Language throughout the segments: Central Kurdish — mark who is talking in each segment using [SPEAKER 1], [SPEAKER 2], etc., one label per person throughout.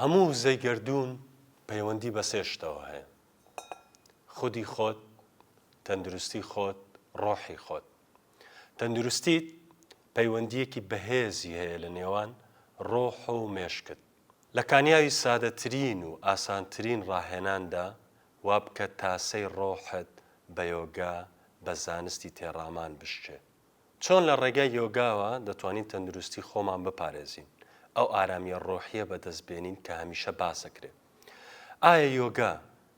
[SPEAKER 1] هەموو وزەی گەردوون پەیوەندی بە سێ شتەوە هەیە، خودی خۆت، تەندروستی خۆت، ڕۆحی خۆت. تەندروستیت پەیوەندییەکی بەهێزی هەیە لە نێوان ڕۆح و مێشکت. لە کانیاوی سادەترین و ئاسانترین ڕاهێناندا وا بکە تاسەی ڕۆحت بە یۆگا بە زانستی تێڕامان بشکێ. چۆن لە ڕێگای یۆگاوە دەتوانین تەندروستی خۆمان بپارێزین، ئەو ئارامییە ڕۆحییە بەدەست بێنین کە هەمیشە باس دەکرێت؟ ئایا یۆگا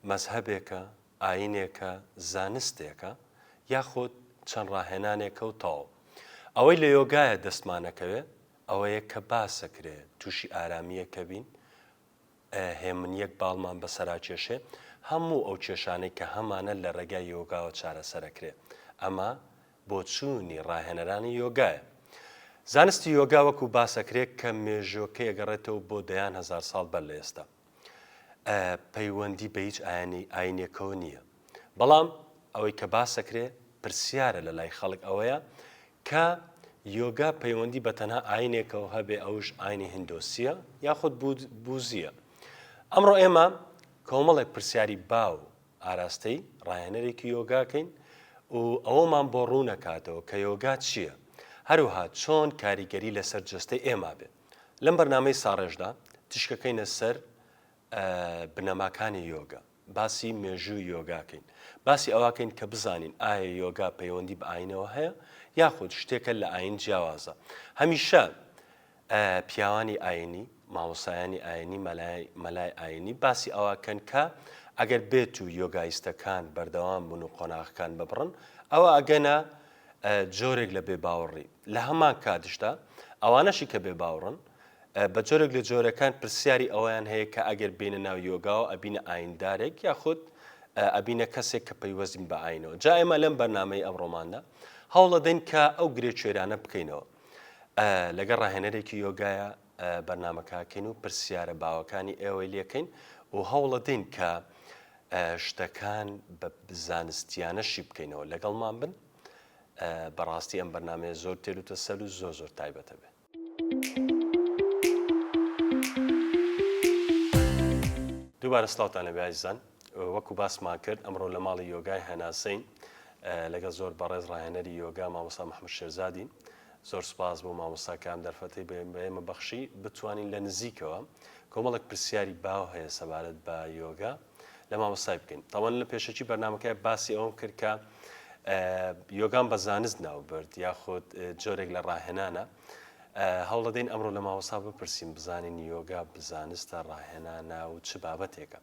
[SPEAKER 1] مەزهەبێکە، ئایینێکە، زانستێکە، یاخود چەند ڕاهێنانێکە و تەواو؟ ئەوەی لە یۆگایە دەستمانەکەوێت ئەوەیە کە باس دەکرێت تووشی ئارامییەکە بین، هێمنییەک باڵمان بەسەراکێشێ، هەموو ئەو کێشانەی کە هەمانە لە ڕێگای یۆگاوە چارەسەر دەکرێت، ئەمە بۆچوونی ڕاهێنەرانی یۆگایە. زانستی یۆگا وەکو باسەکرێ کە مێژۆکەی ئەگەڕێتەوە بۆ دەیان هەزار ساڵ بەر لە ئێستا. ئە پەیوەندی بە هیچ ئایەنی ئاینێکەوە نییە. بەڵام ئەوەی کە باسەکرێ پرسیارە لە لای خەڵک ئەوەیە کە یۆگا پەیوەندی بە تەنها ئاینێکەوە هەبێ ئەوش ئاینی هندۆسییە یاخود بوزییە. ئەمڕۆ ئێمە کۆمەڵێک پرسیاری باو ئاراستەی ڕاهێنەرێکی یۆگاکەین و ئەوەمان بۆ ڕوونەکاتەوە کە یۆگا چییە هەروەها چۆن کاریگەری لەسەر جەستەی ئێمە بێت لەم بەرنامەی ساڕێژدا تیشکەکەینە سەر بنەماکانی یۆگا باسی مێژووی یۆگاکەین باسی ئەواکەین کە بزانین ئایا یۆگا پەیوەندی بە ئاینەوە هەیە یاخود شتێکە لە ئاین جیاوازە هەمیشە پیاوانی ئاینی، مامۆستایانی ئاینی، مەلای ئاینی باسی ئەوەکەن کە ئەگەر بێتو یۆگایستەکان بەردەوام بن و قۆناغەکان ببڕن ئەوا ئەگەنە جۆرێک لە بێباوەڕی لە هەمان کاتشدا ئەوانەشی کە بێباوڕن بە جۆرێک لە جۆرەکان پرسیاری ئەویان هەیە کە ئەگەر بینە ناو یۆگاوە ئەبینە ئایندارێک یاخود ئەبینە کەسێک کە پەیوەستین بە ئاینەوە جا ئێمە لەم بەرنمەی ئەمڕۆماندا هەوڵەدەین کە ئەو گرێ کوێرانە بکەینەوە لەگەڵ ڕاهێنەرێکی یۆگایە بەرنمەکەکەین و پرسیارە باوەکانی ئێوەی لەکەین و هەوڵەدەین کە شتەکان بە زانستیانەشی بکەینەوە لەگەڵمان بن بەڕاستی ئەم بەرنمەیە زۆر تێر و تەسەل و زۆر زۆر تایبەتە بێت. دووبارە سلااوان نەبێ ئازیزان وەکو باسمان کرد ئەمڕۆ لە ماڵی یۆگای هەناسەین لەگەڵ زۆر بەڕێز ڕاهێنەری یۆگا مامۆستا محمد شێرزادی زۆر سپاس بۆ مامۆستا کام دەرفەتی بەێمە بەخشی بتوانین لە نزیکەوە کۆمەڵک پرسیاری باو هەیە سەبارەت بە یۆگا لە مامۆستای بکەین تاوان لە پێشەکی بەرنمەکە باسی ئەوم کرد کە یۆگان بە زانست ناوبرد یاخود جۆرێک لە ڕاهێنانە هەوڵەدەین ئەمڕۆ لە ماوەسا بپرسین بزانین یۆگا بزانستە ڕاهێنانە و چ بابەتێکە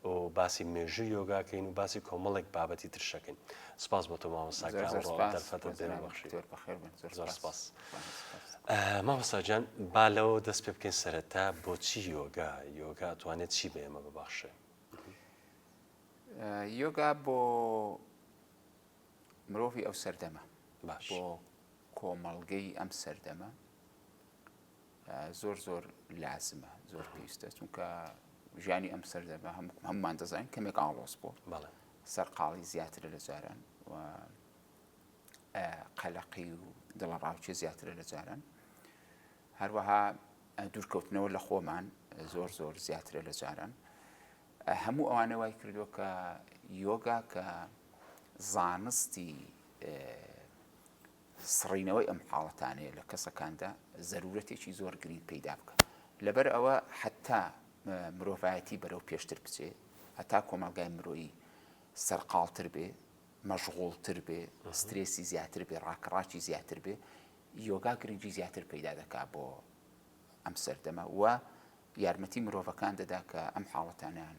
[SPEAKER 1] و باسی مێژوو یۆگاکەین و باسی کۆمەڵێک بابەتی ترشەکەین سپاس بۆ تۆ مامۆستا مامۆستاجان با لەوە دەست پێ بکەین سەرەتا بۆچی یۆگا یۆگا توانێت چی بە ئێمە ببەخشێ یۆگا
[SPEAKER 2] بۆ مرۆڤی ئەو سەردەمە باش بۆ کۆمەڵگەی ئەم سەردەمە زۆر زۆر لازمە زۆر پێویستە چونکە ژیانی ئەم سەردەمە هەم هەممان دەزانین کەمێک ئاڵۆز بۆ بەڵێ سەرقاڵی زیاترە لە جاران و قەلەقی و دڵە ڕاوچێ زیاترە لە جاران هەروەها دوورکەوتنەوە لە خۆمان زۆر زۆر زیاترە لە جاران هەموو ئەوانە وای کردو کە یۆگا کە زانستی سڕینەوەی ئەم حاڵەتانەیە لە کەسەکاندا زەرورەتێکی زۆر گرینگ پەیدا بکا. لەبەر ئەوە حەتا مرۆڤایەتی بەرەو پێشتر بچێ، هەتا کۆمەڵگای مرۆیی سەرقاڵتر بێ، مەشغوڵتر بێ، سترێسی زیاتر بێ، ڕاکەڕاکی زیاتر بێ، یۆگا گرنگی زیاتر پەیدا دەکا بۆ ئەم سەردەمە و یارمەتی مرۆڤەکان دەدا کە ئەم حاڵەتانەیان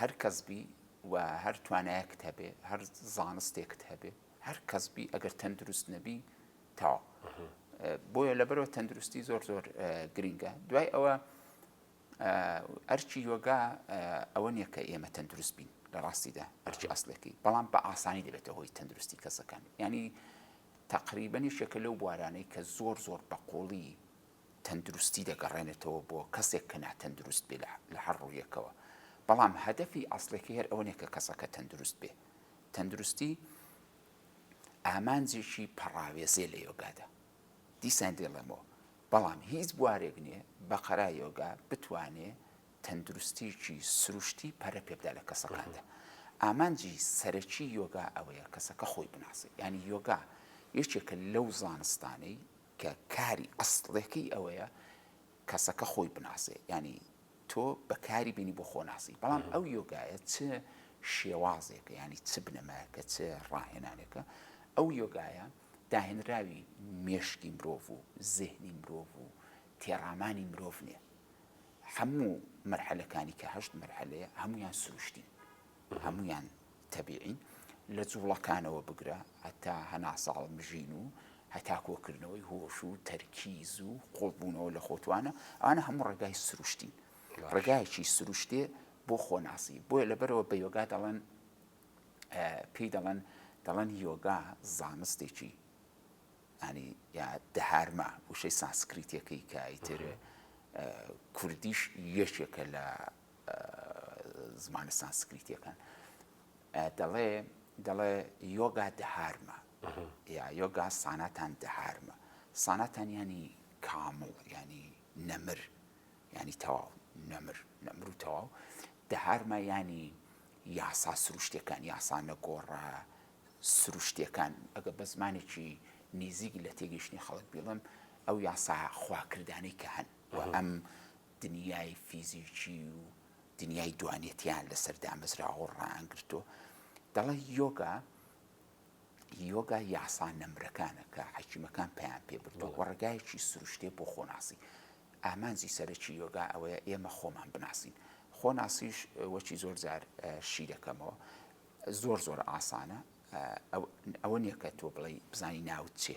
[SPEAKER 2] هەر کەس بی و هەر توانایەکت هەبێ هەر زانستێکت هەبێ هەر کەس بی ئەگەر تەندروست نەبی تاو بۆیە لەبەرەوە تەندروستی زۆر زۆر گرنگە دوای ئەوە ئەرچی یۆگا ئەوە نییە کە ئێمە تەندروست بین لە ڕاستیدا ئەرچی ئەاصلەکەی بەڵام بە ئاسانی دەبێتە هۆی تەندروستی کەسەکان ینی تقریبنی شەکە لەو بوارانەی کە زۆر زۆر بەقۆڵی تەندروستی دەگەڕێنێتەوە بۆ کەسێک کە ناتەندروست بێ لە هەر ڕوویەکەوە، بەڵام هەدەفی ئەسڵیەکەی هەر ئەوە نیە کە کەسەکە تەندروست بێ، تەندروستی ئامانجێکی پەڕاوێزێ لە یۆگادا، دیسان دەیڵێمەوە، بەڵام هیچ بوارێک نیە بە قەرا یۆگا بتوانێ تەندروستیەکی سروشتی پەرە پێ بدا لە کەسەکاندا، ئامانجی سەرەکی یۆگا ئەوەیە کەسەکە خۆی بناسێ، یانی یۆگا یەکێکە لەو زانستانەی کە کاری ئەسڵێکەی ئەوەیە کەسەکە خۆی بناسێ یانی تۆ بەکاری بینی بۆ خۆ ناسی بەڵام ئەو یۆگایە چ شێوازێکە ینی چ بنەمایەکە چ ڕاهێنانێکە ئەو یۆگایە داهێنراوی مێشکی مرۆڤ و زهنی مرۆڤ و تێڕامانی مرۆڤ نیە هەموو مەرحەلەکانی کە هەشت مەرحەلەیە هەمویان سروشتین هەموویان تەبیعین، لە جوڵەکانەوە بگرە هەتا هەناسەهەڵ مژین و هەتا کۆکردنەوەی هۆش و تەرکیز و قوڵبوونەوە لە خۆتوانە، ئەوانە هەموو ڕێگای سروشتین، ڕێگایەکی سروشتێ بۆ خۆناسی، بۆیە لەبەرئەوە بە یۆگا دەڵێن پێی دەڵێن دەڵێن یۆگا زانستێکی ینی یا دهارما وشەی سانسکریتەکەی کە ئیتر کوردیش یەکێکە لە زمانە سانسکریتیەکان دەڵێ دەڵێ یۆگا دهارمە یا یۆگا ساناتان دهارمە ساناتان ینی کامڵ ینی نەمر ینی تەواو نەمر نەمر و تەواو دهارمە ینی یاسا سروشتەکان یاسا نەگۆڕە سروشتەکان ئەگە بە زمانێکی نزیک لە تێگەیشتنی خەڵک بیڵم ئەو یاسا خواکردانەی کە هەن ئەم دنیای فیزیکی و دنیای دوانێتیان لەسەر دامەزراوە و ڕایانگرتووە. دەڵێ یۆگا، یۆگا یاسا نەمرەکانە کە حەکیمەکان پەیان پێ بردووە و ڕێگایەکی سروشتیە بۆ خۆناسی. ئامانجی سەرەکی یۆگا ئەوەیە ئێمە خۆمان بناسین. خۆناسیش وەکی زۆر جار شی دەکەمەوە، زۆر زۆر ئاسانە. ئەوە نیە کە تۆ بڵێی بزانی ناوت چیە.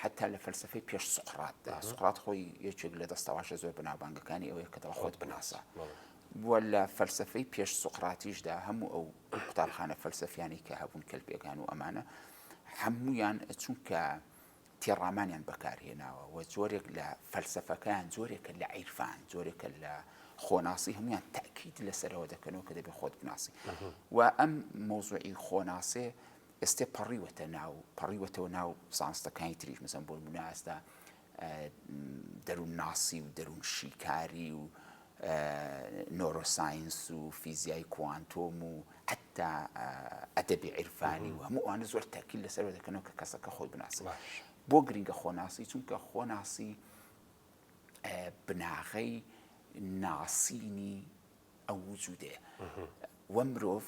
[SPEAKER 2] حەتتا لە فەلسەفەی پێش سوقراتدا، سوقرات خۆی یەکێک لە دەستەواژە زۆر بەناوبانگەکانی ئەوەیە کە دەڵێ خۆت بناسە. بووە لە فەلسەفەی پێش سوقراتیشدا هەموو ئەو قوتابخانە فەلسەفیانی کە هەبوون کەل پێگان و ئەمانە هەمویان چونکە تێڕامانیان بەکارهێناوە و جۆرێک لە فەلسەفەکان جۆرێکە لە عیرفان جۆرێکە لە خۆناسی هەمویان تاکیت لەسەرەوە دەکەنەوە کە دەبێت خۆت بناسی و ئەم مۆزوعی خۆناسێ ئێستێ پەڕیوەتە ناو پەڕیوەتەوە ناو زانستەکانی تریش مەسەن بۆ نمونە ئێستا دەروونناسی و دەروونشیکاری و نۆرۆساینس و فیزیای کوانتۆم و حتا ئەدەبی عیرفانی و هەموو ئەوانە زۆر تەرکیل لەسەرەوە دەکەنەوە کە کەسەکە خۆی بناسن بۆ گرنگە خۆناسی چونکە خۆناسی بناغەی ناسینی ئەو وجودەیە وە مرۆڤ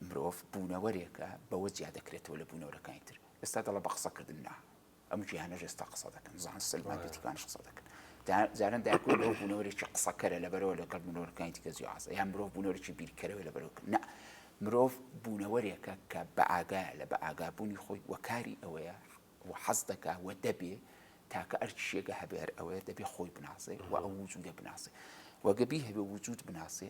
[SPEAKER 2] مرۆڤ بوونەوەرێکە بەوە جیا دەکرێتەوە لە بوونەورەکانی تر ئێستا دەڵە بە قسە کردن نا ئەم جیهانە ژێستا قسە دەکەن زان سلمان دیتیکان قسە دەکەن جاران داکو لەو بوونەوەرێکی قسەکەرە لەبەرەوە لەگەڵ بوونەوەرەکانی دیکە جیازە یان مرۆڤ بوونەوەرێکی بیرکەرەوە لەبەرەوە نا مرۆڤ بوونەوەرێکە کە بە ئاگا لە بە ئاگابوونی خۆی وەکاری ئەوەیە و حەز دەکا و دەبێ تاکە ئەرچ شێگە هەبێر ئەوەیە دەبێ خۆی بناسێ و ئەو وجودە بناسێ وەگەبی هەبێ وجود بناسێ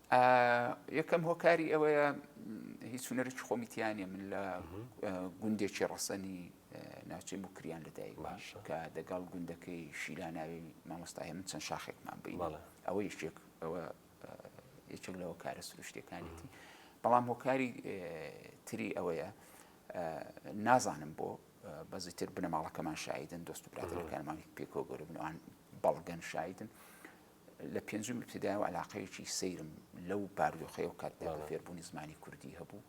[SPEAKER 1] یەکەم
[SPEAKER 2] هۆکاری ئەوەیە هیچ هونەرێکی خۆمی تیانە من لە گوندێکی ڕەسەنی ناوچەی مکریان لەدایک باش کە دەگەڵ گوندەکەی شیلاناوی مامۆستای من چەند شاخێکمان بین ئەوە یشتێک ئەوە یەکێک لەوە کارە سروشتەکانێتی بەڵام هۆکاری تری ئەوەیە نازانم بۆ بەزیتر بنەماڵەکەمان شاهیدن دۆست و براتەکانمانی پێکۆ گەورە بنوان بەڵگەن شاهیدن لە پێنجم ابتدایەوە عەلاقەیەکی سەیرم لەو باردۆخەیەو کاتدا کە فێربوونی زمانی کوردی هەبوو،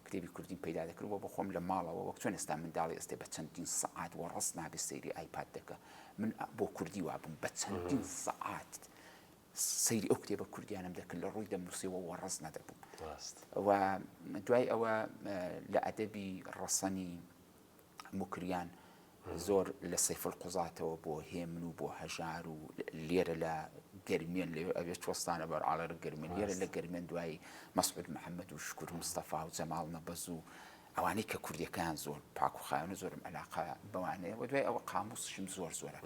[SPEAKER 2] کتێبی کوردیم پەیدا دەکرد و بە خۆم لە ماڵەوە وەک چۆن ئێستا منداڵی ئێستێ بە چەندین سەعات وەڕەس نابێ سەیری ئایپاد دەکا، من بۆ کوردی وابووم بە چەندین سەعات سەیری ئەو کتێبە کوردیانەم دەکرد لە ڕووی دەمنووسیەوە وەڕەس نەدەبووم. و دوای ئەوە لە ئەدەبی ڕەسەنی موکریان زۆر لە سەیف القوزاتەوە بۆ هێمن و بۆ هەژار و لێرە لە گەرمیێن لێ ئەوێ چۆستانە بەر ئاڵەر گەرمێن لێرە لە گەرمێن دوایی مەسعود محەممەد و شکر مستەفا و جەماڵ نەبەز و ئەوانەی کە کوردەکان زۆر پاک و خاوێن زۆرم علاقە بەوانەیە و دوای ئەوە قاموسشم زۆر زۆرە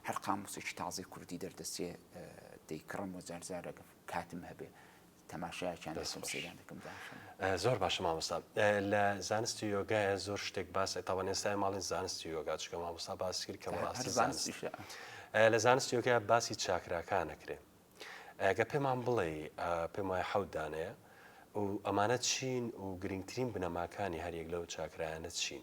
[SPEAKER 2] هەر قاموسێکی تازی کوردی دەردەچێ دەیکڕم و جارجارە کاتم هەبێ تەماشایەکیان دەست دەکەم خۆش سەیریان دەکەم داشم. زۆر باشە
[SPEAKER 1] مامۆستا لە زانستی یۆگایە زۆر شتێک باس تاوان ئێستای ماڵین زانستی یۆگا چکە مامۆستا باس کرد کە هە- هەر بەڕاستی زانست زانستیشە لە زانستی یۆگا باسی چاکراکانە کرێ ئەگە پێمان بڵێ پێم وایە حەوت دانەیە و ئەمانە چین و گرنگترین بنەماکانی هەریەک لەو چاکرایانە چین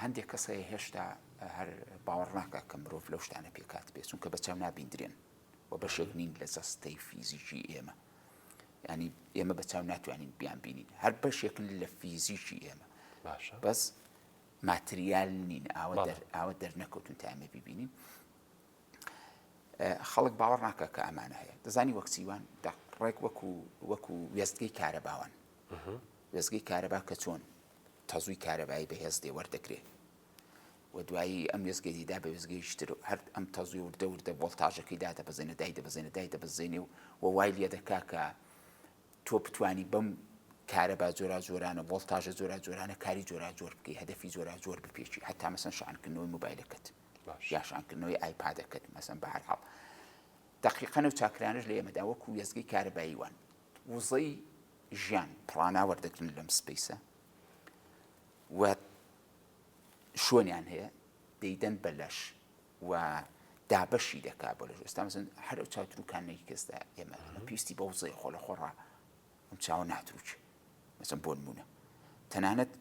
[SPEAKER 2] هەندێک کەس هەیە هێشتا هەر باوەڕ ناکات کە مرۆڤ لەو شتانە پێکهات بێت، چونکە بە چاو نابیندرێن و بەشێک نین لە جەستەی فیزیکی ئێمە. یانی ئێمە بە چاو ناتوانین بیان بینین، هەر بەشێکن لە فیزیکی ئێمە. باشە. بەس ماتریال نین، ئاوە دەر ئاوە دەرنەکەوتون تا ئێمە ببینین. خەڵک باوەڕ ناکە کە ئەمانە هەیە دەزانی وەک چیوان ڕێک وەکو وەکو وێستگەی کارەباوان وێزگەی کارەبا کە چۆن تەزووی کارەبایی بەهێز لێ وەردەگرێ و دوایی ئەم وێستگەی دیدا بە وێستگەیەکی تر و هەر ئەم تەزووی وردە وردە ڤۆڵتاژەکەی دادەبەزێنێ، دایدەبەزێنێ، دایدەبەزێنێ و و وای لێ دەکا کە تۆ بتوانی بەم کارەبا جۆراوجۆرانە، ڤۆڵتاژە جۆراوجۆرانە کاری جۆراوجۆر بکەی، هەدەفی جۆراوجۆر بپێکی، هەتا مەسەن شەحنکردنەوەی مۆبایلەکەت باش یا شەحنکردنەوەی ئایپادەکەت مەسەن. بە هەر حاڵ دەقیقەن ئەو چاکرانەش لە ئێمەدا وەکوو وێستگەی کارەبایی وان. وزەی ژیان پڵانا وەردەگرن لەم سپەیسە و شوێنیان هەیە دەیدەن بە لەش و دابەشی دەکا بۆ لەش ئێستا مەسن هەر ئەو چاوتروکانێکی کەسدا ئێمە ئەمە پێویستی بە وزەی خۆ لە خۆڕا ئەم چاوە ناتروچ مەسم بۆ نمونە تەنانەت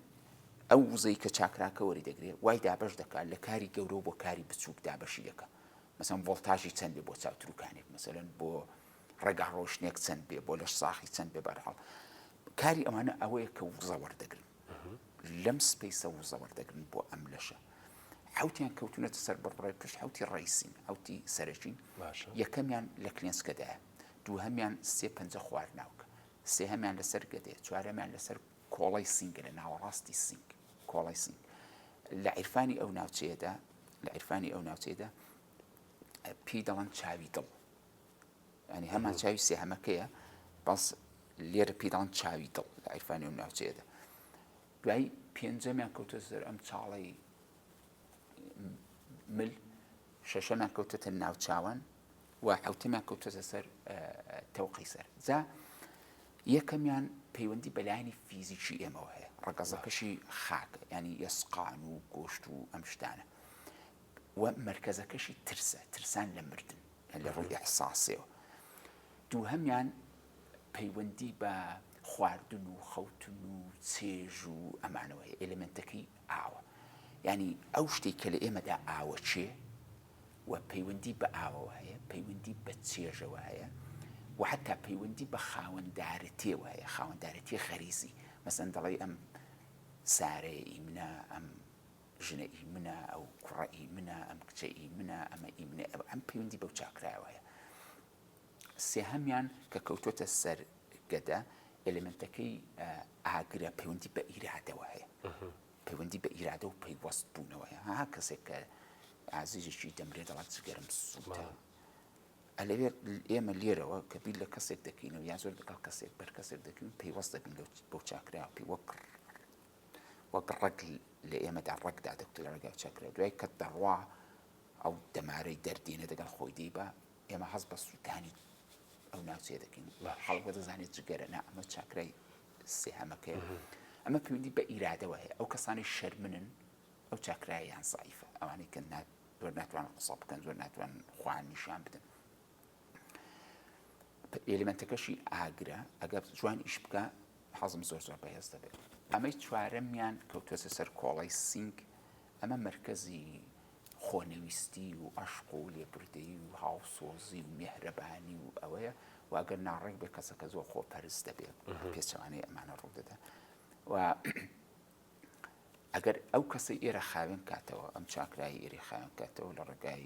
[SPEAKER 2] ئەو وزەی کە چاکراکە وەری دەگرێ وای دابش دەکات لە کاری گەورە بۆ کاری بچووک دابشی دەکە مەسم ڤۆلتاژی چەندێ بۆ چاوتروکانێک مەسەن بۆ ڕێگا ڕۆشنێک چەند بێ بۆ لەش ساخی چەند بێ بەرحاڵ کاری ئەوانە ئەوەیە کە وزە وەردەگرن لەم سپیسە وزە وەردەگرن بۆ ئەم لەشە حوتیان کەوتونەتە سەر بڕڕێ پشت حوتی ڕیسین حوتی سەرەکین یەکەمیان لە کلێنسکەدایە دووهمیان سێ پنج خوار ناوکە سێهمیان لەسەر گەدێ چوارەمیان لەسەر کۆڵی سنگە لە ناوەڕاستی سنگ کۆڵی سنگ لە عیرفانی ئەو ناوچەیەدا لە عیرفانی ئەو ناوچەیەدا پێی دەڵەن چاوی دڵ یانی هەمان چاوی سێهەمەکەیە بەس لێرە پیران چاوی دڵ لە عیرفانی و ناوچێدا دوای پێنجەمیان کەوتە زەر ئەم چاڵی مل شەشەمیان کەوتەتە ناوچوان و حوتەمیان کەوتەتە سەر تەوقی سەر جا یەکەمیان پەیوەندی بەلایانی فیزیکی ئێمەوە هەیە ڕگەزەکەشی خاک ینی یسقان و گۆشت و ئەم شتانە و مرکزەکەشی ترسە ترسان لە مردن لە ڕووی ئیحساسیەوە. دووهەمیان پەیوەندی بە خواردن و خەوتن و چێژ و ئەمانەوە هەیە، ئێلێمێنتەکەی ئاوە. یانی ئەو شتەی کە لە ئێمەدا ئاوە چێ و پەیوەندی بە ئاوەوە هەیە، پەیوەندی بە چێژەوە هەیە و حەتا پەیوەندی بە خاوەندارەتێوە هەیە، خاوەندارەتیی غەریزی. مەسەلەن دەڵێی ئەم سارەیە ئیمنە، ئەم ژنە ئی منە، ئەو کوڕە ئی منە، ئەم کچە ئی منە، ئەمە ئی منە، ئەوە ئەم پەیوەندی بەو چاکرایەوە هەیە. سێهەمیان کە کەوتۆتە سەر گەدە، ئێلێمێنتەکەی ئاگرە، پەیوەندی بە ئیرادەوە هەیە. پەیوەندی بە ئیرادە و پەیوەست بوونەوە هەیە. هەر کەسێک کە ئازیزێکی دەمرێ دەڵێت جگەرم سووتا. ئەلەوێت ئێمە لێرەوە کە بیر لە کەسێک دەکەینەوە یا زۆر لەگەڵ کەسێک بەر کەسێک دەکەین پەیوەست دەبین بەو چاکرایەوە پێی وەک وەک ڕەگ لە ئێمەدا ڕەگ دادەکوتە لە ڕێگای چەکرە، دوای کە دەڕوا ئەو دەمارەی دەردێنێ دەگەڵ خۆی دەیبا، ئێمە هەست بە سووتانی ئەو ناوچەیە دەکەین، خەڵک دەزانێت جگەرە نا، ئەمە چاکرای سێهەمەکەیە، ئەمە پەیوەندی بە ئیرادەوە هەیە، ئەو کەسانی شەرمنن ئەو چاکرایەیان زەعیفە، ئەوانەی کە زۆر ناتوانن قسە بکەن، زۆر ناتوانن خۆیان نیشان بدەن، ئێلیمێنتەکەشی ئاگرە ئەگەر جوان ئیش بکە حەزم زۆر زۆر بەهێز دەبێت ئەمەی چوارەمیان کەوتوەسە سەر کۆڵی سینگ ئەمە مرکزی خۆنەویستی و ئەشق و لێبوردەیی و هاوسۆزی و مێهرەبانی و ئەوەیە واگەر ناڕێک بێ کەسەکە زۆر خۆ پەرست دەبێت پێچوانەی ئەمانە ڕوودەدا و ئەگەر ئەو کەسی ئێرە خاوێن کاتەوە ئەم چاکرای ئێری خاوێن کاتەوە لە ڕێگای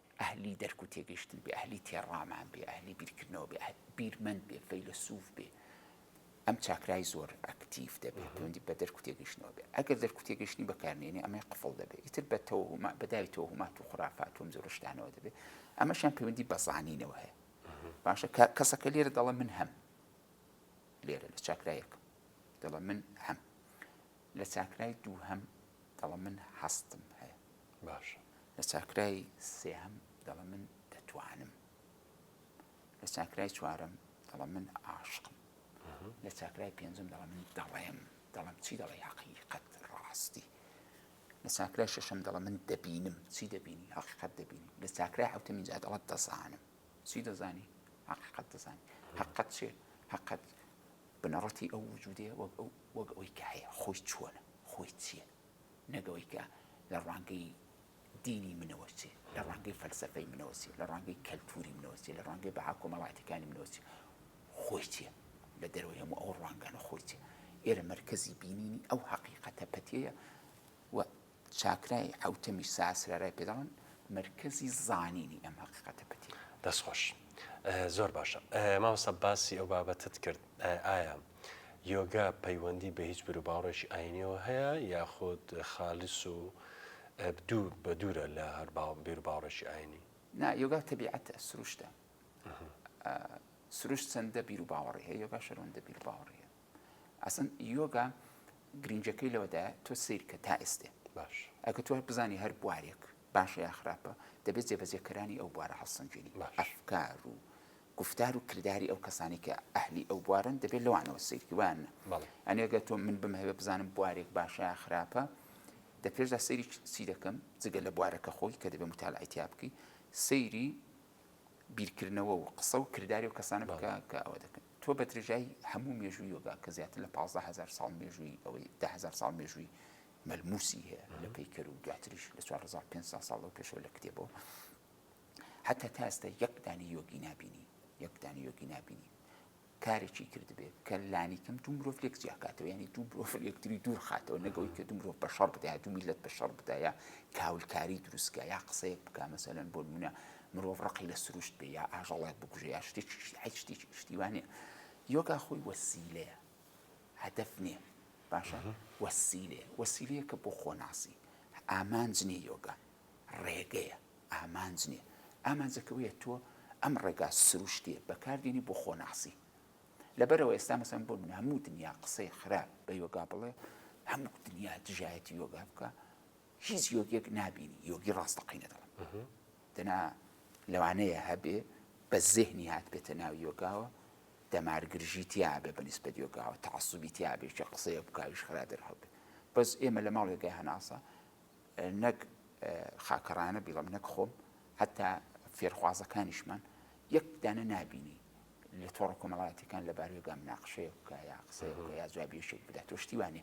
[SPEAKER 2] ئەهلی دەرک و تێگەیشتن بێ، ئەهلی تێڕامان بێ، ئەهلی بیرکردنەوە بێ، بیرمەند بێ، فەیلەسوف بێ، ئەم چاکرای زۆر ئەکتیڤ دەبێ، پەیوەندی بە دەرک و تێگەیشتنەوە بێ. ئەگەر دەرک و تێگەیشتنی بەکار نێنێ، ئەمەی قفڵ دەبێ. ئیتر بە تەوەهوما، بە داوی تەوەهومات و خورافات و ئەم جۆرە شتانەوە دەبێ. ئەمەشیان پەیوەندی بە زانینەوە هەیە. باشە کە کەسەکە لێرە دەڵێ من هەم. لێرە لە چاکرای یەکەم دەڵێ من هەم. لە چاکرای دووهەم دەڵێ من هەستم هەیە. باشە.
[SPEAKER 1] لە چاکرای
[SPEAKER 2] سێهەم دەڵێ من دەتوانم. لە چاکرای چوارەم دەڵێ من عاشقم. لە چاکرای پێنجەم دەڵێ من دەڵێم دەڵێم چی دەڵێ حەقیقەت ڕاستی. لە چاکرای شەشەم دەڵێ من دەبینم چی دەبینی حەقیقەت دەبینی لە چاکرای حوتەمین جا دەڵەت دەزانم چی دەزانی حقیقت دەزانانی حقت چێ حقت بنەڕەتی ئەو وجودێ وەک ئەو وەک ئەوی کە هەیە خۆی چۆنە خۆی چییە نەک ئەوەی کە لە ڕوانگەی دینی منەوە چێ، لە ڕوانگەی فەلسەفەی منەوە چێ، لە ڕوانگەی کەلتووری منەوە چێ، لە ڕوانگەی بەها کۆمەڵایەتییەکانی منەوە چێ، خۆی چێ، لە دەرەوەی هەموو ئەو ڕوانگانە خۆی چێ. ئێرە مەرکەزی بینینی ئەو هەقیقەتە پەتییەیە و چاکرای حەوتەمیش ساسرارای پێ دەڵێن، مەرکەزی زانینی ئەم هەقیقەتە پەتییەیە. دەستخۆش.
[SPEAKER 1] زۆر باشە. مامۆستا باسی ئەو بابەتەت کرد، ئایا یۆگا پەیوەندی بە هیچ بیروباوەڕێکی ئایینیەوە هەیە یاخود خالیس و دوور بە دوورە لە هەر بیروباوەڕێکی ئایینی؟ نا، یۆگا تەبیعەتە،
[SPEAKER 2] سروشتە. سروشت چەندە بیروباوەڕی هەیە، یۆگاش هەرەوەندە بیروباوەڕی هەیە. ئەسڵەن یۆگا گرینگیەکەی لەوەدایە تۆ سەیر کە تا ئێستێ. باش. ئەگەر تۆ
[SPEAKER 1] بزانی
[SPEAKER 2] هەر بوارێک باشە یا خراپە، دەبێت جێبەجێکەرانی ئەو بوارە هەڵسەنگێنی. باش. ئەفکار و گوفتار و کرداری ئەو کەسانەی کە ئەهلی ئەو بوارەن دەبێت لەوانەوە سەیرکە وایان نا؟ بەڵێ. یانی ئەگەر تۆ من بمهەوێ بزانم بوارێک باشە یا خراپە، دە پێشدا سەیری چ- چی دەکەم جگە لە بوارەکە خۆی کە دەبێ متالعەی تیا بکەی، سەیری بیرکردنەوە و قسە و کرداری ئەو کەسانە بکە بەڵێ. کە ئەوە دەکەن. تۆ بە درێژایی هەموو مێژووی یۆگا کە زیاتر لە پازدە هەزار ساڵ مێژووی ئەوەی دە هەزار ساڵ مێژووی مەلمووسی هەیە لە پەیکەر و دواتریش لە چوار هەزار و پێنج سەد ساڵ لەو پێشەوە لە کتێبەوە، هەتا تا ئێستا یەک دانەی یۆگی نابینی یەک دانەی یۆگی نابینی کارێکی کردبێت کە لانی کەم دوو مرۆڤ لێک جیاکاتەوە ینی دوو مرۆڤ یەکتری دوور خاتەوە نەگەوەی کە دوو مرۆڤ بە شەڕ بدایە دوو میلت بە شەڕ بدایە کاولکاری دروستکە یا قسەیەک بک مەسەلەن بۆ منە مرۆڤ ڕقی لە سروشت بێ یا ئاژەڵێک بگوژێ یا شتێک شتێک شتیوانێ یۆگا خۆی وەسیلەیە هەدەف نییە باشە وەسیلێ وەسیلەیە کە بۆ خۆناسی ئامانج نیە یۆگا ڕێگەیە ئامانج نیە ئامانجەکە ئەوەیە تۆ ئەم ڕێگا سروشتیە بەکاردێنی بۆ خۆناسی لەبەرەوە ئێستا مەسەن بۆ من هەموو دنیا قسەی خراپ بە یۆگا بڵێ هەموو دنیا دژایەتی یۆگا بکە هیچ یۆگێک نابینی یۆگی ڕاستەقینە دەڵم دەنا لەوانەیە هەبێ بە زهنی هات بێتە ناو یۆگاوە دەمارگرژی تیاابێ بە نیسبەت یۆگاوە تەعسوبی تیاابێکی قسەیە بکویش خرا دەرهەبێ بەس ئێمە لە ماڵێگای هەناسە نەک خاکەڕایانە بیڵێم نەک خۆم هەتا فێرخوازەکانیشمان یەک دانە نابینی لە تۆڕە کۆمەڵاتەکان لە بارێگا مناقشەیە بکە یا قسەیە بکە یا جوابیشێک بدات تۆ شتیوانە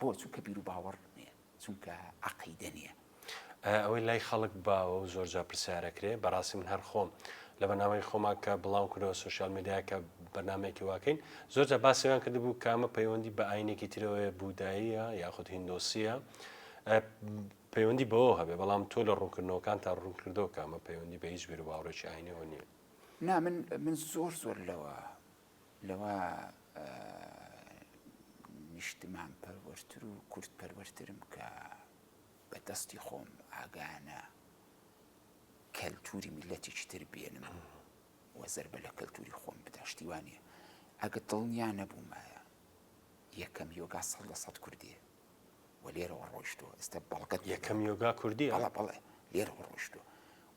[SPEAKER 2] بۆ چونکە بیر و باوەڕ نیە چونکە عقیدە نیە ئەوەی لای
[SPEAKER 1] خەڵک باوە و زۆر جا پرسیارەکرێ بەڕاستی من هەر خۆم لە بەنامەی خۆما کە بڵاو کردەوە سوسیال میدیا کە بەنامێکی واکەین زۆر جا باسیان کردبوو کامە پەیوەندی بە ئاینێکی ترەوەیە بوداییە یاخود هندۆسیە پەیوەندی بەوەوە هەبێت، بەڵام تۆ لە ڕوونکردنەوەکانتا ڕوونکردەوە کە ئەمە پەیوەندی بە هیچ بیروباوەڕێکی ئاینیەوە نییە. نا
[SPEAKER 2] من من زۆر زۆر لەوە لەوە نیشتمان پەروەرتر و کورد پەروەرترم کە بە دەستی خۆم ئاگانە کەلتوری میلەتێکی تر بێنم و زربە لە کەلتوری خۆم بداشتیوانە ئەگە دڵنیا نەبوومایە یەکەم یۆگا سەد لە سەد کوردێ و لێرەوە ڕۆیشتووە ئێستا بەڵگەت یەکەم یۆگا کوردیە
[SPEAKER 1] بەڵێ بەڵێ لێرەوە
[SPEAKER 2] ڕۆیشتووە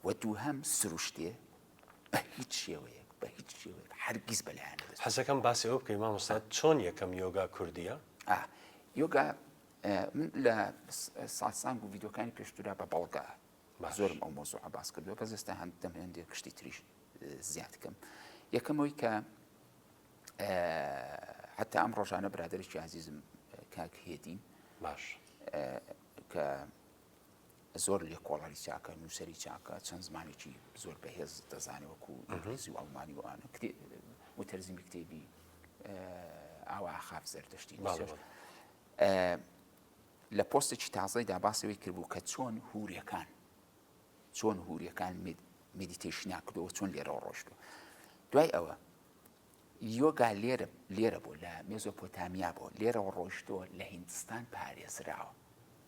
[SPEAKER 2] و دووهەم سروشتێ بە هیچ شێوەیەک بە هیچ شێوەیەک هەرگیز بەلایان نەدەست حەزەکەم باسی ئەوە بکەی
[SPEAKER 1] مامۆستا چۆن یەکەم یۆگا کوردیە ئا یۆگا
[SPEAKER 2] ئە، من لە س- ساسانگ و ڤیدیۆکانی پێشترا بە بەڵگە باش. زۆرم ئەو مۆزوعە باس کردووە بەس ئێستا هەند دەم هەندێک شتی تریش اه، زیاد کەم یەکەمەوەی کە حتا ئەم ڕۆژانە برادێکی عزیزم کاک هێدی باش کە زۆر لێ کۆڵانی چاکە نووسری چاکە چەند زمانێکی زۆر بەهێز دەزانێ وەکو ئینگلیزی و ئەڵمانی وانە وتەرزیمی کتێبی ئاوا خاف زەردەشتی لە پۆستێکی تازای داباسەوەی کردبوو کە چۆن هورەکان چۆن هورەکان مدیتیشنا کردەوە چۆن لێرەوە ڕۆشتوە دوای ئەوە یۆگا لێرە لێرە بوو لە مێزۆپۆتامیا بۆ لێرەوە ڕۆیشتووە لە هیندستان پارێزراوە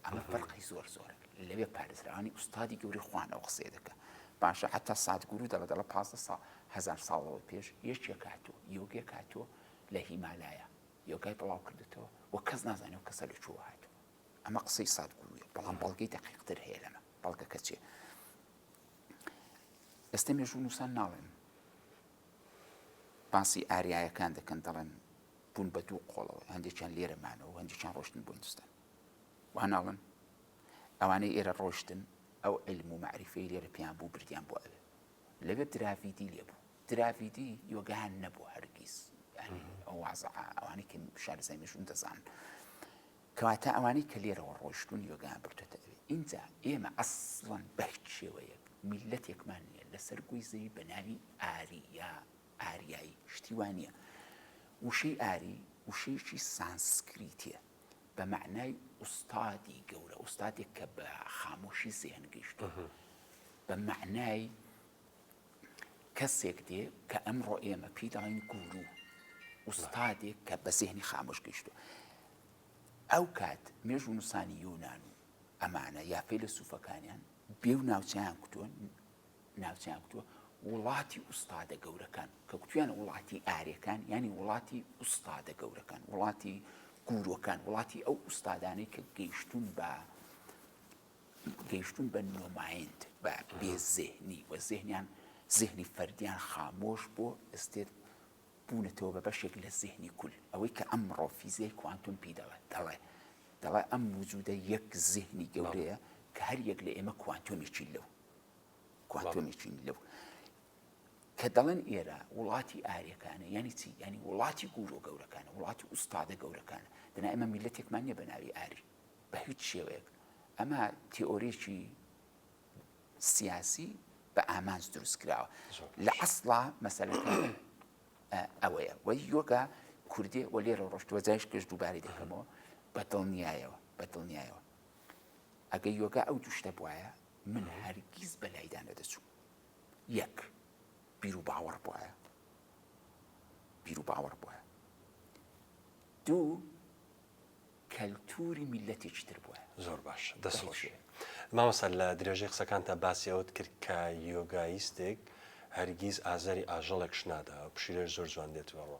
[SPEAKER 2] ئەمە فەرقی زۆر زۆرە لەوێ پارێزراوانی ئوستادی گەوری خوانەوە قسێ دەکە باشە حتا ساتگورو دەڵە دەڵە پ سا هزار ساڵەوە پێش یەکێ کاتوە یۆگێ کاتوە لە هیمالایە یۆگای بڵاو کردێتەوە و کەس نازانێت و کەسە لە چوە هاتو ئەمە قسەی ساتگورویە بەڵام بەڵگەی دەقیقتر هەیە لەمە بەڵگەکە چێ ئێستا مێژوو نووسان ناڵێن باسی ئاریایەکان دەکەن دەڵێن بوون بە دوو قۆڵەوە هەندێکیان لێرە مانەوە هەندێکیان ڕۆشتن بۆ هندستان واناڵن ئەوانەی ئێرە ڕۆشتن ئەو علم و معریفەی لێرە پێیان بوو بردیان بۆ ئەوێ لەوێ دراڤیدی لێ بوو دراڤیدی یۆگەیان نەبوو هەرگیز ئەوازە ئەوانی کە شارزای مێژوون دەزان کەواتە ئەوانەی کە لێرەوە ڕۆیشتوون یۆگایان بردۆتە ئەوێ. ئینجا ئێمە ئەسڵەن بە هیچ شێوەیەک میللەتێکمان نییە لەسەر گۆی زەوی بە ناوی ئاری یا ئاریایی. شتی وا نییە. وشەی ئاری وشەیەکی سانسکریتییە بە مەعنای ئوستادی گەورە، ئوستادێک کە بە خامۆشی زێن گەیشتووە، بە مەعنای کەسێک دێ کە ئەمڕۆ ئێمە پێی دەڵێن گورو، ئوستادێک کە بە زێهنی خامۆش گەیشتووە. ئەو کات مێژوونووسانی یۆنان و ئەمانە یا فەیلەسووفەکانیان بێ و ناوچەیان کوتووە، ناوچەیان کوتووە وڵاتی ئوستادە گەورەکان، کە کوتوویانە وڵاتی ئاریەکان، یانی وڵاتی ئوستادە گەورەکان، وڵاتی گوروەکان، وڵاتی ئەو ئوستادانەی کە گەیشتوون بە، گەیشتوون بە نۆمایند بە بێ زهنی و زهنیان زهنی فەردیان خامۆش بۆ ئستێت بوونەتەوە بە بەشێک لە زهنی کول ئەوەی کە ئەم ڕۆ فیزیای کوانتم پی دەڵێ دەڵێ دەڵێ ئەم وجودە یەک زهنی گەورەیە کە هەر یەک لە ئێمە کوانتۆمێکی لەو کوانتۆمێکین لەو کە دەڵێن ئێرە وڵاتی ئاریەکانە یعنی چی ینی وڵاتی گورۆ گەورەکانە وڵاتی ئوستادە گەورەکانە دەنا ئمە میلەتێکمان نیە بە ناوی ئاری بە هیچ شێوەیەک ئەمە تیۆریی سیاسی بە ئامانج دروست کراوە لە ئەسڵا مەسەلەکە ئەوەیە وە یۆگا کوردێ وە لێرە ڕۆشتوە جایش کەش دووبارەی دەکەمەوە بە دڵنیایەوە بە دڵنیایەوە ئەگە یۆگا ئەو دوشتە بواە من هەرگیز بە لایدا نەدەچوو یەک بیر و باوەڕ بواە بیر و باوەڕ بواە دوو کەلتوری میلەتێکی تر بوە. زۆر باش دەست خۆش
[SPEAKER 1] مامۆستا لە درێژەی قسەکانتا باسی ئەوەت کرد کە یۆگایستێک هەرگیز ئازاری ئاژەڵێکش نادا پشیلەش زۆر جوان دێت بەڕۆ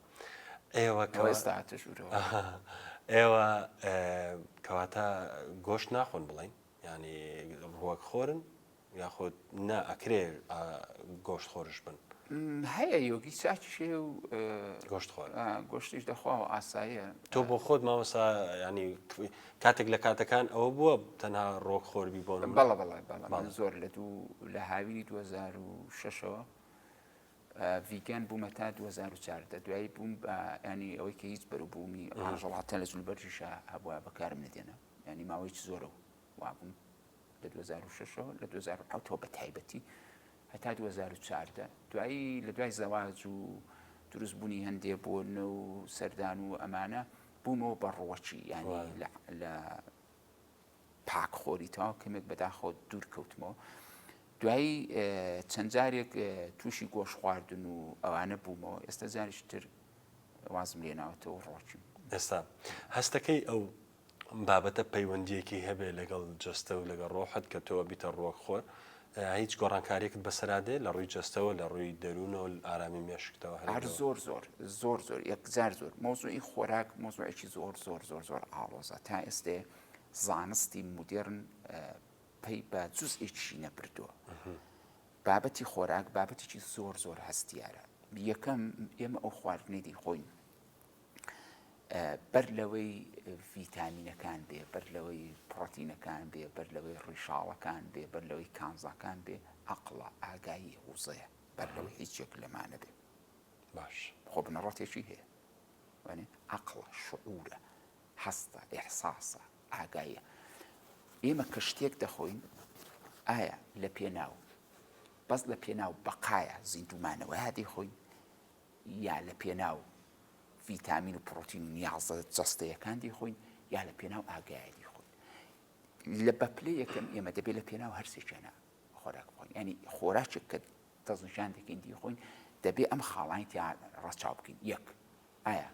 [SPEAKER 1] ئێوە کە ئەوە ئێستا هاتە ژوورەوە ئەها. ئێوە ئێ کەواتە گۆشت ناخۆن بڵێن یانی ڕووەک خۆرن؟ یاخود نا ئەکرێ گۆشت خۆرش بن؟ هەیە یۆگی
[SPEAKER 2] چاکیش هەیە و گۆشت خۆر گۆشتیش دەخوا و ئاساییە تۆ بۆ خۆت مامەسا
[SPEAKER 1] ینی کاتێک لە کاتەکان ئەوە بووە تەنها ڕۆک خۆربی بۆ بەڵە بەڵێ بەڵێ زۆر
[SPEAKER 2] لە دوو لە هاوینی 2006ەوە ڤیگەن بوومە تا 2014 دوایی بووم بە ینی ئەوەی کە هیچ بەروبوومی ڕژەڵاتە لە جلوبەرژیشە هەبووە بەکارم نەدێنە ینی ماوەی زۆرە و وابووم لە دوو هەزار و شەش ەوە لە دوو هەزار و حەوت ەوە بە تایبەتی هەتا دوو هەزار و چواردە دوایی لە دوای زەواج و دروست بوونی هەندێ بۆ نە و سەردان و ئەمانە بوومەوە بە ڕوەکی یانی لە پاک خۆری تاوا کەمێک بەداخۆ دوور کەوتمەوە دوایی چەند جارێک تووشی گۆش خواردن و ئەوانە بوومەوە ئێستا جاریش تر وازم لێناوەتەوە ڕۆچم ئێستا
[SPEAKER 1] هەستەکەی ئەو بابەتە پەیوەندیەکی هەبێ لەگەڵ جەستە و لەگە ڕۆحت کە تۆ بیتە ڕوەک خۆر هیچ گۆڕانکاریەکت بەسەرادێ لە ڕووی جەستەوە لە ڕووی دەروونەوە ئارامی مێشکتەوە هەر زۆر زۆر
[SPEAKER 2] زۆر زۆر یەکجار زۆر مۆزوعی خۆراک مۆزوعێکی زۆر زۆر زۆر زۆر ئاڵۆزە تا ئێستێ زانستی مدررن پێی بە جزئێکی نەبردووە بابەتی خۆراک بابەتێکی زۆر زۆر هەستیارە یەکەم ئێمە ئەو خواردنی دی خۆین بەر لەوەی ڤیتامینەکان بێ، بەر لەوەی پڕۆتینەکان بێ، بەر لەوەی ڕیشاڵەکان بێ، بەر لەوەی کانزاکان بێ، عەقڵە، ئاگاییە، وزەیە، بەر لەوەی هیچ یەک لەمانە بێ. باش.
[SPEAKER 1] خۆ بنەڕەتێکی
[SPEAKER 2] هەیە. وانێ عەقڵە، شعورە، هەستە، ئیحساسە، ئاگاییە. ئێمە کە شتێک دەخۆین ئایا لە پێناو بەس لە پێناو بەقایە زیندوومانەوەیا دەیخۆین یا لە پێناو ڤیتامین و پڕۆتین و نیازە جەستەیەکان دەیخۆین یا لە پێناو ئاگایە دەیخۆین. لە بە پلەی یەکەم ئێمە دەبێت لە پێناو هەرسێکیانە خۆراک بخۆین ینی خۆراکێک کە دەستنیشان دەکەین دیخۆین دەبێ ئەم خاڵانی تیا ڕەچاو بکەین یەک ئایا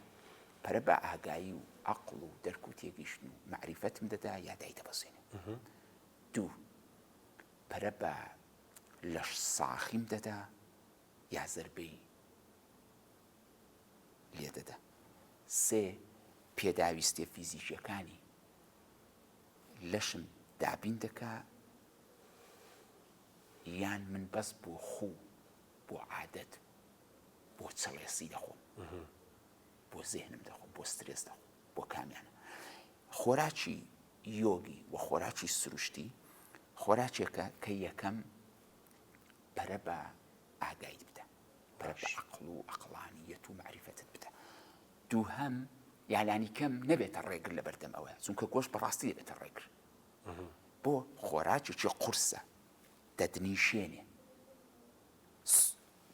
[SPEAKER 2] پەرە بە ئاگایی و عقل و دەرک و تێگەیشتن و معریفەتم دەدا یا دای دەبەسێنێ دوو پەرە بە لەش ساخیم دەدا یا زەربەی لێ دەدا. سێ، پێداویستیە فیزیکیەکانی لەشم دابین دەکا یان من بەس بۆ خو بۆ عادەت بۆ چڵێسی دەخۆم بۆ زێنم دەخۆم بۆ سترێس دەخۆم بۆ کامیانە خۆراکی یۆگی و خۆراکی سروشتی خۆراکێکە کە یەکەم پەرە بە ئاگایت بدە، پەرە بە عەقڵ و عەقڵانییەت و مەعریفەتت بدە. دووهەم، یا لانیکەم نەبێتە ڕێگر لە بەردەم ئەوەیا، چونکە گۆشت بە ڕاستی دەبێتە ڕێگر. بۆ؟ خۆراکێکی قورسە، دەتنیشێنێ،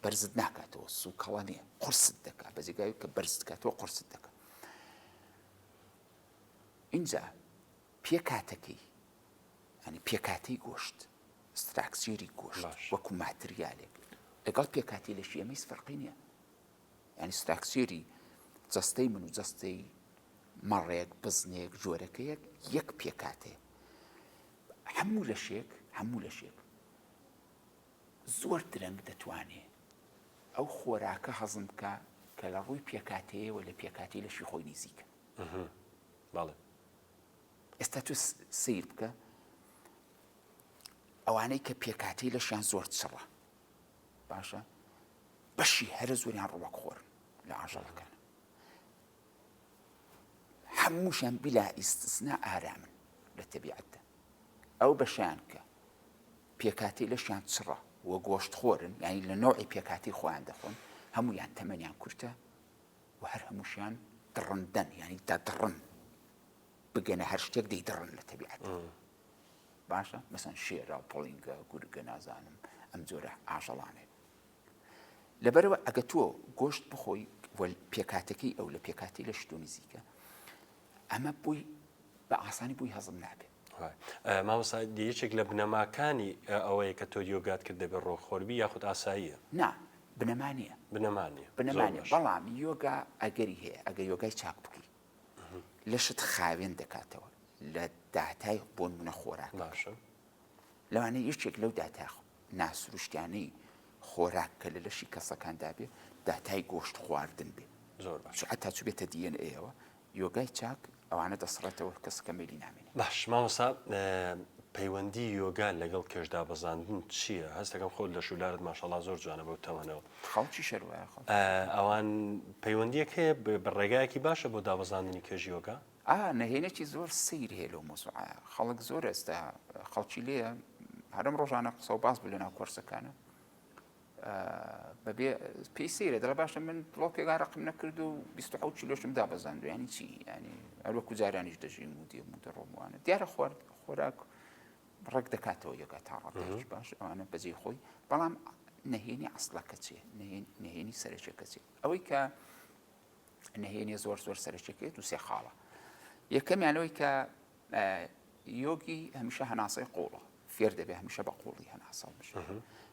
[SPEAKER 2] بەرزت ناکاتەوە، سووکەڵە نییە، قورست دەکات، بە جێگای ئەوەی کە بەرزت بکاتەوە، قورست دەکات. ئینجا پێکهاتەکەی، یانی پێکهاتەی گۆشت، ستراکچێری گۆشت وەکو ماتریالێک لەگەڵ پێکهاتەی لەشی ئێمە هیچ فەرقی نییە. یانی ستراکچێری جەستەی من و جەستەی مەڕێک، بزنێک، جۆرەکەیەک یەک پێکهاتەیە. هەموو لەشێک هەموو لەشێک زۆر درەنگ دەتوانێ ئەو خۆراکە هەزم بکە کە لە ڕووی پێکاتەیەوە لە پێکاتی لەشی خۆی نزیکە. بەڵێ. ئێستا تۆ سیر بکە ئەوانەی کە پێکاتی لەشیان زۆر چڕە باشە بەشی هەرە زۆریان ڕوەک خۆر لە ئاژەڵەکان هەمووشیان بلا ئیسنا ئارامن لە تەبیعەتدا ئەو بەشیان کە پێکاتی لەشیان چڕە و گۆشت خۆرن یعنی لە نەوەی پێکاتی خۆیان دەخۆن هەمویان تەمەنیان کورتە و هەر هەمووشیان دڕندەن یانی دەدڕن بگەنە هەر شتێک دەیدڕن لە تەبیعەت باشە مەسەن شێرا و پڵینگە گورگە نازانم ئەم جۆرە ئاژەڵانێ لەبەرەوە ئەگە تۆ گۆشت بخۆی پێکاتەکەی ئەو لە پێکاتی لە شتۆ نزیکە ئەمە بۆی بە ئاسانی بۆی هەزم نابێت مامۆستا
[SPEAKER 1] یەکێک لە بنەماکانی ئەوەیە کە تۆ یۆگات کرد دەبێت ڕۆخۆربی یاخود ئاساییە نا بنەما
[SPEAKER 2] نییە بنەمانە بنەمانە بەڵام یۆگا ئەگەری هەیە ئەگە یۆگای چاک بکەی لەشت خاوێن دەکاتەوە لە داتای بۆن منە خۆراک باشە لەوانەیە یەکێک لەو داتا ناسروشتیانەی خۆراک کە لە لەشی کەسەکاندا بێ داتای گۆشت خواردن بێ زۆر باش حتا چ بێتە دیێن ئەوە یۆگای چاک ئەوانە دەسڕێتەوە کەسەکە مێلی نامێنێ باش مامەسا
[SPEAKER 1] پەیوەندی یۆگا لەگەڵ کێشدا بەزاندن چییە هەستەکەم خۆت لە شولارت ماشەڵا زۆر جوانە بەو تەوەنەوە خەڵکی شەروایە
[SPEAKER 2] ئەوان
[SPEAKER 1] پەیوەندیەک هەیە بە ڕێگایەکی باشە بۆ دابەزاندنی کێژیۆگە ئا نهێنێکی زۆر
[SPEAKER 2] سەیر هەیە لەو مەسوعە خەڵک زۆر ئێستا خەڵکی لێ هەرم ڕۆژانە قسە و باس بوو لە ناو کۆرسەکانە بەبێ پێی سەیرە دەڵە باشە من بڵۆکێکا ڕقم نەکرد و 26 کیلۆشم دا بەزاند ینی چی ینی ئەروەکو جارانیش دەژیم و دێم و دەڕۆموانە دیارە خوارد خۆراک ڕێک دەکاتەوە یەکە تا ڕەتش باش ئەوانە بەجێ خۆی بەڵام نهێنی ئەسڵەکە چێ نهێنی سەرچەکە چێ ئەوەی کە نهێنیە زۆر زۆر سەرچەکێت و سێ خاڵە یەکەمیان لەوەی کە یۆگی هەمیشە هەناسەی قوڵە فێر دەبێ هەمیشە بە قوڵی هەناسە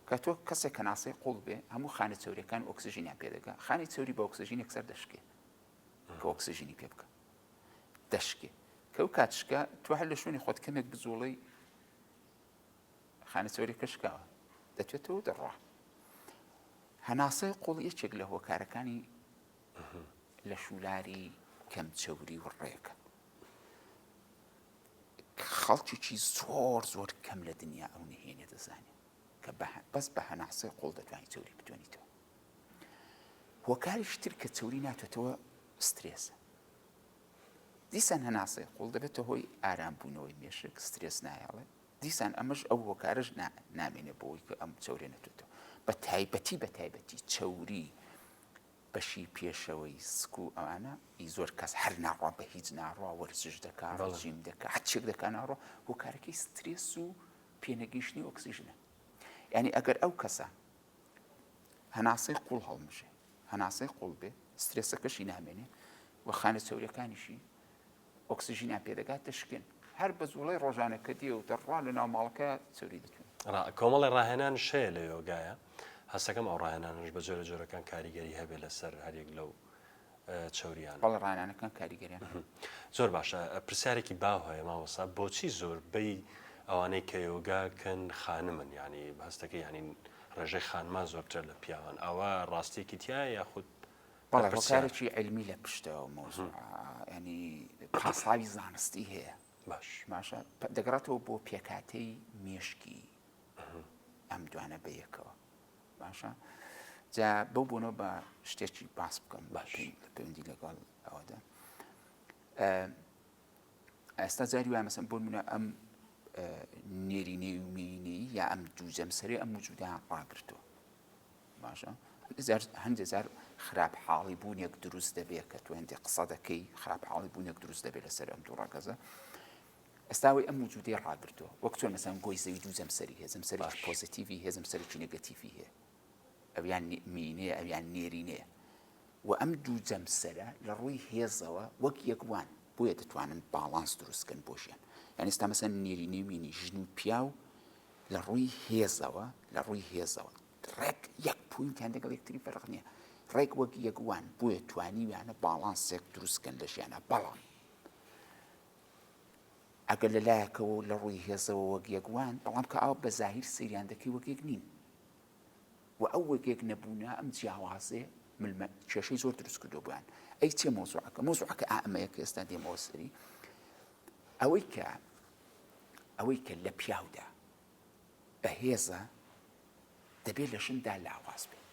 [SPEAKER 2] کە تۆ کەسێک کەناسەی قوڵ بێ هەموو خانە چوریەکان ئۆکسژینیان پێدەگە خانی چوری بە ئۆکسژینێک سەر دەشکێ کە ئۆکسژینی پێ بکە دەشکێ کەو کاتشکە تو هەر لە شوێنی خۆت کەمێک بزوڵی خانە چۆری کەشکاوە دەچێتەوە دەڕوا هەناسەی قوڵ یەکێک لە هۆکارەکانی لە شولاری کەم چەوری و ڕێکە خەڵکیی زۆر زۆر کەم لە دنیا ئەو نهێنێ دەزانێت کە بەس بە هەناسەی قوڵ دەتوانانی چوری بتوانیتەوە هۆکاری شتر کە چوری ناتێتەوە سترێسە دیسان هەناسەی قوڵ دەبێتە هۆی ئارام بوونەوەی مێشک سترێس نایەڵێ دیسان ئەمەش ئەو هۆکارش نامێنێ بۆی کە ئەم چورێ نەتێتەوە بە تایبەتی بە تایبەتی چوری بەشی پێشەوەی سک و ئەوانە ئی زۆر کەس هەر ناڕوا بە هیچ ناڕوا وەرزش دەکا ڕژیم دەکە هەچێک دەکە ناڕۆ هۆکارەکەی سترێس و پێنەگەیشتنی ئۆکسیژنە ینی ئەگەر ئەو کەسە هەناسەی قوڵ هەڵمژێ هەناسەی قوڵ بێ سترێسەکەشی نامێنێ و خانە چەورەکانیشی ئۆکسسیژینیان پێدەگات دەشکێن هەر بە زوڵی ڕۆژانە کە دیێ و دەڕوا لە ناو ماڵەکە چوری دەکەن کۆمەڵی ڕاهێنان
[SPEAKER 1] شەیە لە یۆگایە هەستەکەم ئەو ڕاهێنانش بە جۆرە جۆرەکان کاریگەری هەبێ لەسەر هەرێک لەو چەورییانە. بەڵێ ڕانانەکان
[SPEAKER 2] کاریگەریان هەیە. زۆر باشە
[SPEAKER 1] پرسیارێکی باو هەیە مامۆستا بۆچی زۆربەی ئەوانەی کە یۆگا کەن خانمن یانی هەستەکە یانی ڕێژەی خانمان زۆرترە لە پیاوان ئەوە ڕاستیەکی تایە یاخود بەڵێ هۆکارێکی
[SPEAKER 2] علمی لە پشتەوە مۆزوع ینی پاساوی زانستی هەیە باش باشە دەگەڕێتەوە بۆ پێکاتەی مێشکی ئەم دوانە بەیەکەوە باشە جا بەو بۆنەوە بە شتێکی باس بکەم باش لە پەیوەندی لەگەڵ ئەوەدا ئێستا جاری وای مەسم بۆ منە ئەم نێرینەی و مینەی یا ئەم دوو جەمسەری ئەم وجودا ڕاگرتووە باشە جار هەندێ جار خراپ حاڵی بوونێک دروست دەبێت کە توێندی قسە دەکەی خراپ حاڵی بوونێک دروست دەبێت لەسەر ئەم دوو ڕەگەزە ئێستا ئەوەی ئەم وجودەی ڕاگرتووە وەک چۆن مەسەن گۆی زەوی دوو جەمسەری هەیە جەمسەری باش. پۆزەتیڤی هەیە جەمسەرێکی نێگەتیڤی هەیە ئەویان نی- مینەیە ئەویان نێرینەیە و ئەم دوو جەمسەرە لە ڕووی هێزەوە وەک یەک وان بۆیە دەتوانن باڵانس دروست بکەن بۆ ژیان یان ئێستا مەسەن نێرینەی مینی ژن و پیاو لە ڕووی هێزەوە لە ڕووی هێزەوە ڕێک یەک پوینتیان لەگەڵ یەکتری فەرق نییە ڕێک وەک یەک وان بۆیە توانیویانە باڵانسێک دروست بکەن لە ژیانە بەڵام ئەگەر لە لایەکەوە و لە ڕووی هێزەوە وەک یەک وان، بەڵام کە ئاو بە زاهیر سەیریان دەکەی وەک یەک نین و ئەو وەک یەک نەبوونە، ئەم جیاوازیە ملمە کێشەی زۆر دروست کردووە بۆیان. ئەی چیە مەوزوعەکە؟ مەوزوعەکە ئائەمەیە کە ئێستا دێمەوە سەری ئەوەی کە ئەوەی کە لە پیاودا بەهێزە دەبێت لە ژندا لاواز بێت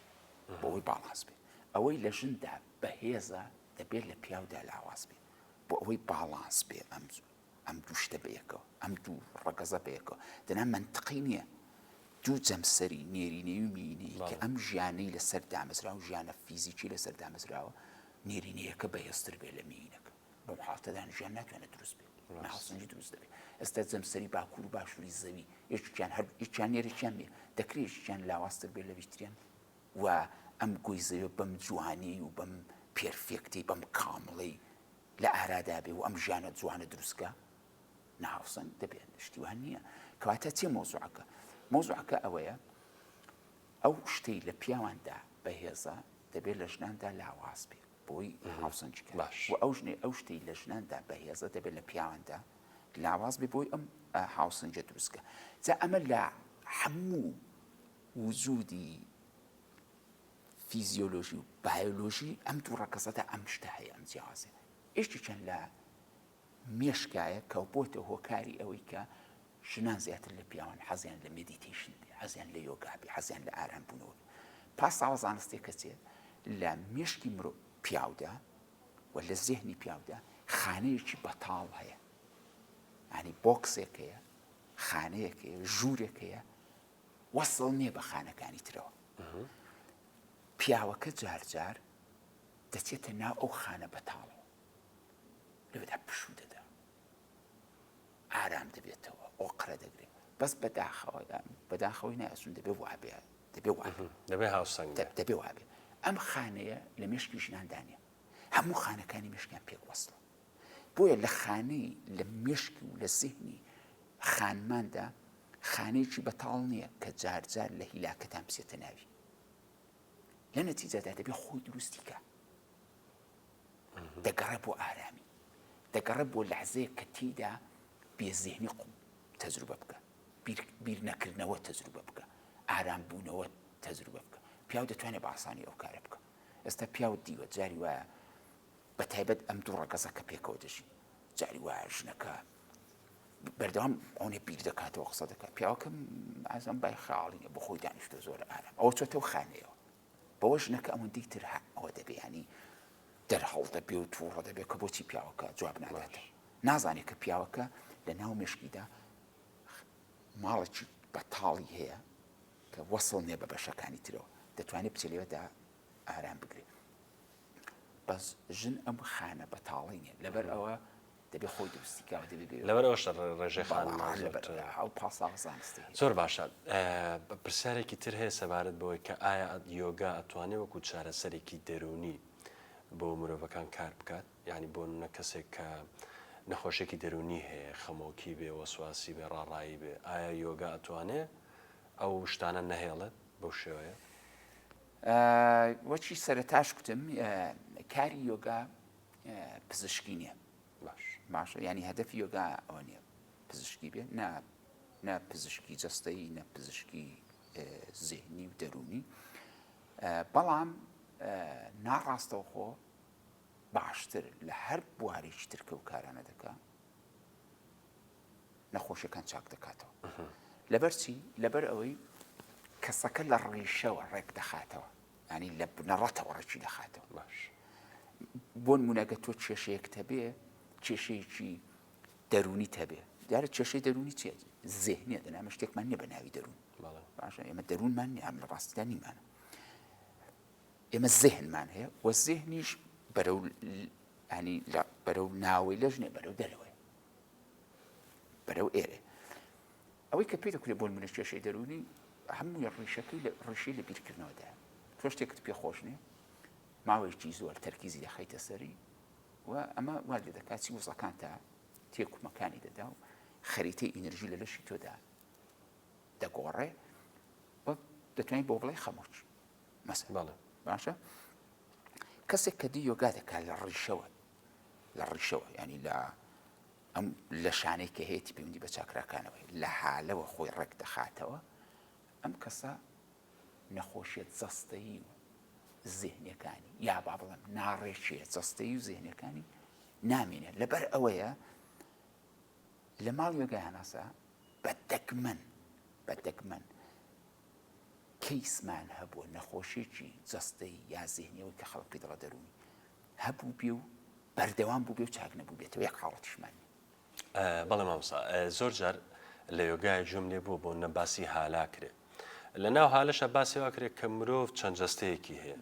[SPEAKER 2] بۆی باڵاز بێت ئەوەی لە ژندا بەهێزە دەبێت لە پیاودا لاواز بێت بۆ ئەوەی باڵانس بێ ئەم ئەم دوو شتە بەیەکەوە ئەم دوو ڕەگەزە بەیەکەوە دەنا مەنتقی نییە دوو جەمسەری نێرینەی و مینەی کە ئەم ژیانەی لەسەر دامەزرا و ژیانە فیزیکی لەسەر دامەزراوە نێرینەیەکە بەهێزتر بێ لە مینەکە بەم حاتەدان ژیان ناتوانێت دروست بێت ناسنجی دروست دەبێت ئێستا جەمسەری باکوور و باشووری زەوی یەکیان هەر یەکیان نێرەکیان بێ دەکرێتیان لاوااستر بێ لە ویتریان و ئەم گۆی زەویە بەم جوانیی و بەم پێرفێکتەی بەم کامڵەی لە ئارادا بێ و ئەم ژیانە جوانە دروست کا نا هاوسەنگ دەبێ شتی وان نییە کەواتە چیە مەوزوعەکە مەوزوعەکە ئەوەیە ئەو شتەی لە پیاواندا بەهێزە دەبێت لە ژناندا لاواز بێ بۆی هاوسەنج باش و ئەو ژنێ ئەو شتی لە ژناندا بەهێزە دەبێت لە پیاواندا لاواز بێ بۆی ئەم هاوسەنجە دروستکە جا ئەمە لە هەموو وجودی فیزیۆلۆژی و بایۆلۆژی ئەم دوو ڕەگەزەدا ئەم شتە هەیە ئەم جیاوازیە هەیە ئیشتی چەند لە مێشکایە کە بۆتە هۆکاری ئەوەی کە ژنان زیاتر لە پیاوان حەزیان لە مدیتیشن بێ حەزیان لە یۆگابی حەزیان لە ئارام بوونەوە پاساوە زانستێک کە چێت لە مێشکی مرۆ پیاودا و لە زێهنی پیاودا خانەیەکی بەتاڵ هەیە ینی بۆکسێکەیە خانەیەکەیە ژوورێکەیە وەسڵ نیە بە خانەکانی ترەوە. پیاوەکە جار جار دەچێتە ناو ئەو خانە بەتاڵەوە لەوێدا پشوو دەدا. ئارام دەبێتەوە ئۆقرە دەگرێت بەس بەداخەوە بەداخەوەی نایسون دەبێ وابێ دەبێ وابێ دەبێ هاوسەنگ دەبێ وابێ ئەم خانەیە لە مێشکی ژناندانە هەموو خانەکانی مشکیان پێک وەسڵە بۆیە لە خانەی لە مێشکی و لە زیهنی خانماندا خانەیەکی بەتاڵ نییە کە جارجار لە هیلاکەتان بچێتە ناوی لە نەتیجەدا دەبێ خۆی دروستیکە دەگەڕێ بۆ ئارامی دەگەڕێ بۆ لەحزەیە کە تیدا بێزیهنی قوم تەجروبە بکە بیر نەکردنەوە تەجروبە بکە ئارام بوونەوە تەجروبە بکە پیاو دەتوانێت بە ئاسانی ئەو کارە بکە ئێستا پیاو دیوە جاری وایە بە تایبەت ئەم دوو ڕەگەزە کە پێکەوە دەژین جاری وایە ژنەکە بەردەوام ئەوەنێ بیر دەکاتەوە قسە دەکات پیاوەکەم ئازم بای خاڵینە بۆ خۆی دانیشتە زۆر ئارام ئەوە چۆتەو خانەیەوە بەوە ژنەکە ئەوەندەی تر ئەوە دەبیانی دەرهەڵ دەبێ و تووڕە دەبێت کە بۆچی پیاوەکە جواب ناداتێ نازانێت کە پیاوەکە لە ناو مشکیدا ماڵێکی بەتاڵی هەیە کە وەسڵ نیە بە بەشەکانی ترەوە دەتوانێت بچێت لێوەدا ئارام بگرێ بەس ژن ئەم خانە بەتاڵی نیە لەبەر ئەوە دەبێ خۆی دروستی کاوە دەبێ لەبەر ئەوش ڕێژێ
[SPEAKER 1] خانمان
[SPEAKER 2] پاساوە زانستی زۆر باشە
[SPEAKER 1] پرسیارێکی تر هەیە سەبارەت بەوەی کە ئایا یۆگا ئەتوانێ وەکو چارەسەرێکی دەرونی بۆ مرۆڤەکان کار بکات ینی بۆ نە کەسێک کە نەخۆشێکی دەرونی هەیە خەمۆکی بێ وەسواسی بێ ڕاڕایی بێ ئایا یۆگا ئەتوانێ ئەو شتانە نەهێڵێت بەو شێوەیە؟
[SPEAKER 2] وەچی سەرتاش کوتم کاری یۆگا پزیشکی نییە باش باشە ینی هەدەفی یۆگا ئەوە نیە پزیشکی بێ نا نە پزیشکی جستەی نە پزیشکی زێنی و دەرونی بەڵام ناڕاستەوخۆ باشتر لە هەر بوارێکی ترکە و کارانە دەکە نەخۆشیەکان چاک دەکاتەوە لەبەرچی لەبەر ئەوەی کەسەکە لە ڕیشەوە ڕێک دەخاتەوە ینی لە بنەڕەتەوە ڕێکی دەخاتەوە باش بۆن منەگە تۆ کێشەیەک تەبێ کێشەیەکی دەرونی تەبێ دیارە کێشەی دەرونی چێت زێنیە دەنامە شتێکمان نیە بە ناوی دەروون باشە ئێمە دەروونمان نیان لە ڕاستدا نیمانە ئێمە زێنمان هەیە وە زێنیش بەرەو ینی بەرەو ناوەی لەژنێ بەرەو دەرەوەی بەرەو ئێرێ. ئەوەی کە پێ دەکرێت بۆن منە کێشەی دەروونی هەمووی ڕیشەکەی لە ڕیشەی لە بیرکردنەوەدا تۆ شتێکت پێ خۆش نیە ماوەیەکی زۆر تەرکیزی دەخیتە سەری و ئەمە وا لێ دەکات چی وزەکان تا تێکومەکانی دەدا و خەریتەی ئینرژی لە لەشی تۆدا دەگۆڕێ و دەتوانین بۆ بڵێ خەمۆچ مەسەڵە باشە کەسێک کە دی یۆگا دەکات لە ڕیشەوە لە ڕیشەوە یانی لە ئەم لەشانەی کە هەیەی پەیوەندی بە چاکراکانەوەی لە هالەوە خۆی ڕێک دەخاتەوە ئەم کەسە نەخۆشیێت جەستەیی و زیهنەکانی یا با بڵم ناڕێکیە جەستەی و زیهنەکانی نامینێت لەبەر ئەوەیە لە ماڵ یۆگای هەناسە بە دەگمەن بە دەگمەن کەیسمان هەبووە نەخۆشیێکی جەستەی یا زیهنیەوەی کە خەڵک پێ دەڵە دەروونی هەبووبێ و بەردەوام بووبێ و چاک نەبووبێتەوە یەک حاڵەتیشمان نیە. بەڵێ
[SPEAKER 1] مامۆستا زۆر جار لە یۆگایە گوێم لێ بووە بۆ نە باسی هالا کرێ لە ناو هالەشە باسی وا کرێت کە مرۆڤ چەند جەستەیەکی هەیە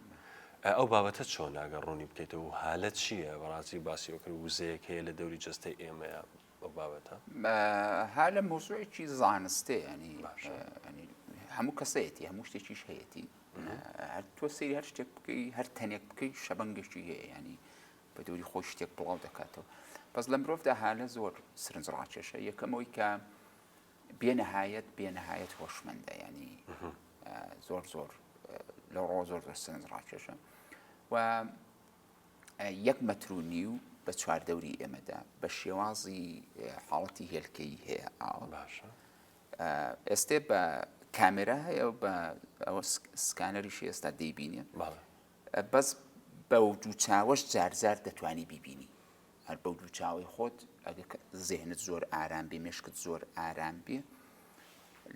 [SPEAKER 1] ئەو بابەتە چۆن ناگە ڕوونی بکەیتەوە و هالە چییە بەڕاستی باسی ئەوکرد وزەیەک هەیە لە دەوری جەستەی ئێمەیە بەو بابەتە؟ ها
[SPEAKER 2] لە مەوزوعێکی زانستێ ینی هەموو کەسەیەتی هەموو شتێکیش هەیەتی هەر تۆ سری هەر شتێک بکەی هەر تەنێک بکەی شەبنگێکی هەیە ینی بە دووری خۆی شتێک بڵاو دەکاتەوە بەس لە مرۆڤدا هالە زۆر سرنج ڕاکێشە یەکەمەوەی کە بێنەهایەت بێنەهایەت هۆشمەندە ینی زۆر زۆر لە ڕۆ زۆر زۆر سرنج ڕاکێشە و یەک مەتر و نیو بە چواردەوری ئێمەدا بە شێوازی حاڵەتی هێلکەی هەیە ئاوە باشە ئێستێ بە کامێرا هەیە و بە ئەوە سکانەریشی ئێستا دەیبینێ بەس بە و دوو چاوەش جارجار دەتوانی بیبینی هەر بەو دوو چاوی خۆت ئەگە زێنت زۆر ئارام بێ مشکت زۆر ئارام بێ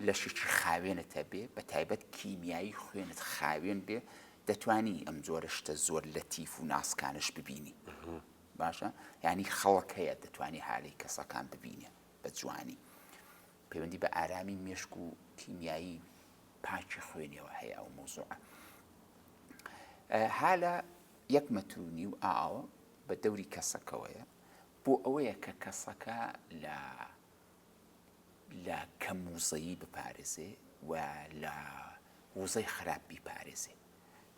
[SPEAKER 2] لەشێکی خاوێنت هەبێ بە تایبەت کیمیایی خوێنت خاوێن بێ دەتوانی ئەم جۆرە شتە زۆر لە تیف و ناسکانش ببینی باشە ینی خەڵک هەیە دەتوانانی هالی کەسەکان ببینێ بە جوانی پەیوەندی بە ئارامی مێشک و کیمیایی پاکی خوێنەوە هەیە ئەو مۆزوع هالە یەک مەترونی و ئاوە بە دەوری کەسەکەوەیە بۆ ئەوەیە کە کەسەکە لە لە کەم وزەیی بپارێزێ و لە وزەی خراپ بیپارێزێ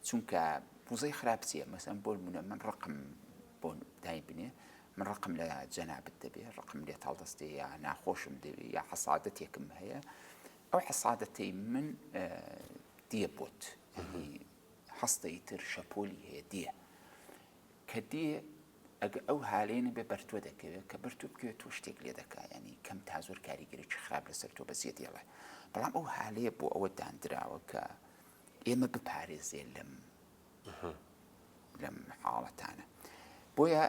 [SPEAKER 2] چونکە وزەی خراپ چییە مەسەن بۆ منە من ڕقم بۆ دایبنێ من ڕقم لە جەنابت دەبێ ڕقم لێ تاڵدەستێ یا ناخۆشم دەوێ یا حەسادەتێکم هەیە ئەو حەسادەتەی من دیە بۆت هەستەی تر شەپۆلی هەیە دیە کە دێ ئەگە ئەو هالەیە نەبێ بەر تۆ دەکەوێ کە بەر تۆ بکەوێ تۆ شتێک لێ دەکا یانی کەم تا زۆر کاریگەریی خراپ لەسەر تۆ بە زێدی ئەڵێ بەڵام ئەو هالەیە بۆ ئەوە داندراوە کە ئێمە بپارێزێ لەم لەم حاڵەتانە بۆیە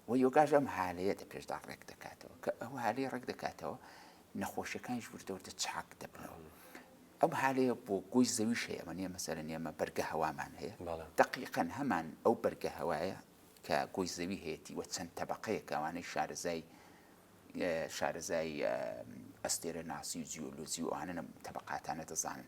[SPEAKER 2] وە یۆگاش ئەم هالەیە دە پێشدا ڕێک دەکاتەوە کە ئەو هالەیە ڕێک دەکاتەوە نەخۆشیەکانیش وردە وردە چاک دەبنەوە ئەم هالەیە بۆ گۆی زەویش هەیە ئەمە نیە مەسەرە نیەمە بەرگە هەوامان هەیە دقیقەن هەمان ئەو بەرگە هەوایە کە گۆی زەوی هەیەی وە چەند تەبقەیە کەوانەی شارەزای شارەزای ئەستێرە ناسی و جیۆلۆزی و ئەوانە تەبقاتانە دەزانن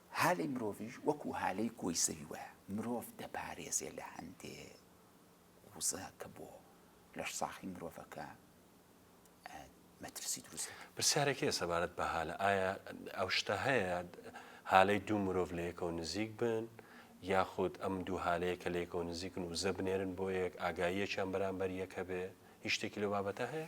[SPEAKER 2] هالەی مرۆڤیش وەکو هالەی کۆی زەوی وایە، مرۆڤ دەپارێزێ لە هەندێ وزە کە بۆ لەش ساخی مرۆڤەکە مەترسی دروست دەکەن. پرسیارێک هەیە سەبارەت
[SPEAKER 1] بە هالە، ئایا ئەو شتە هەیە هالەی دوو مرۆڤ لە یەکەوە نزیک بن، یاخود ئەم دوو هالەیە کە لە یەکەوە نزیکن وزە بنێرن بۆ یەک، ئاگاییەکیان بەرامبەر یەک هەبێ، هیچ شتێکی لەو بابەتە هەیە؟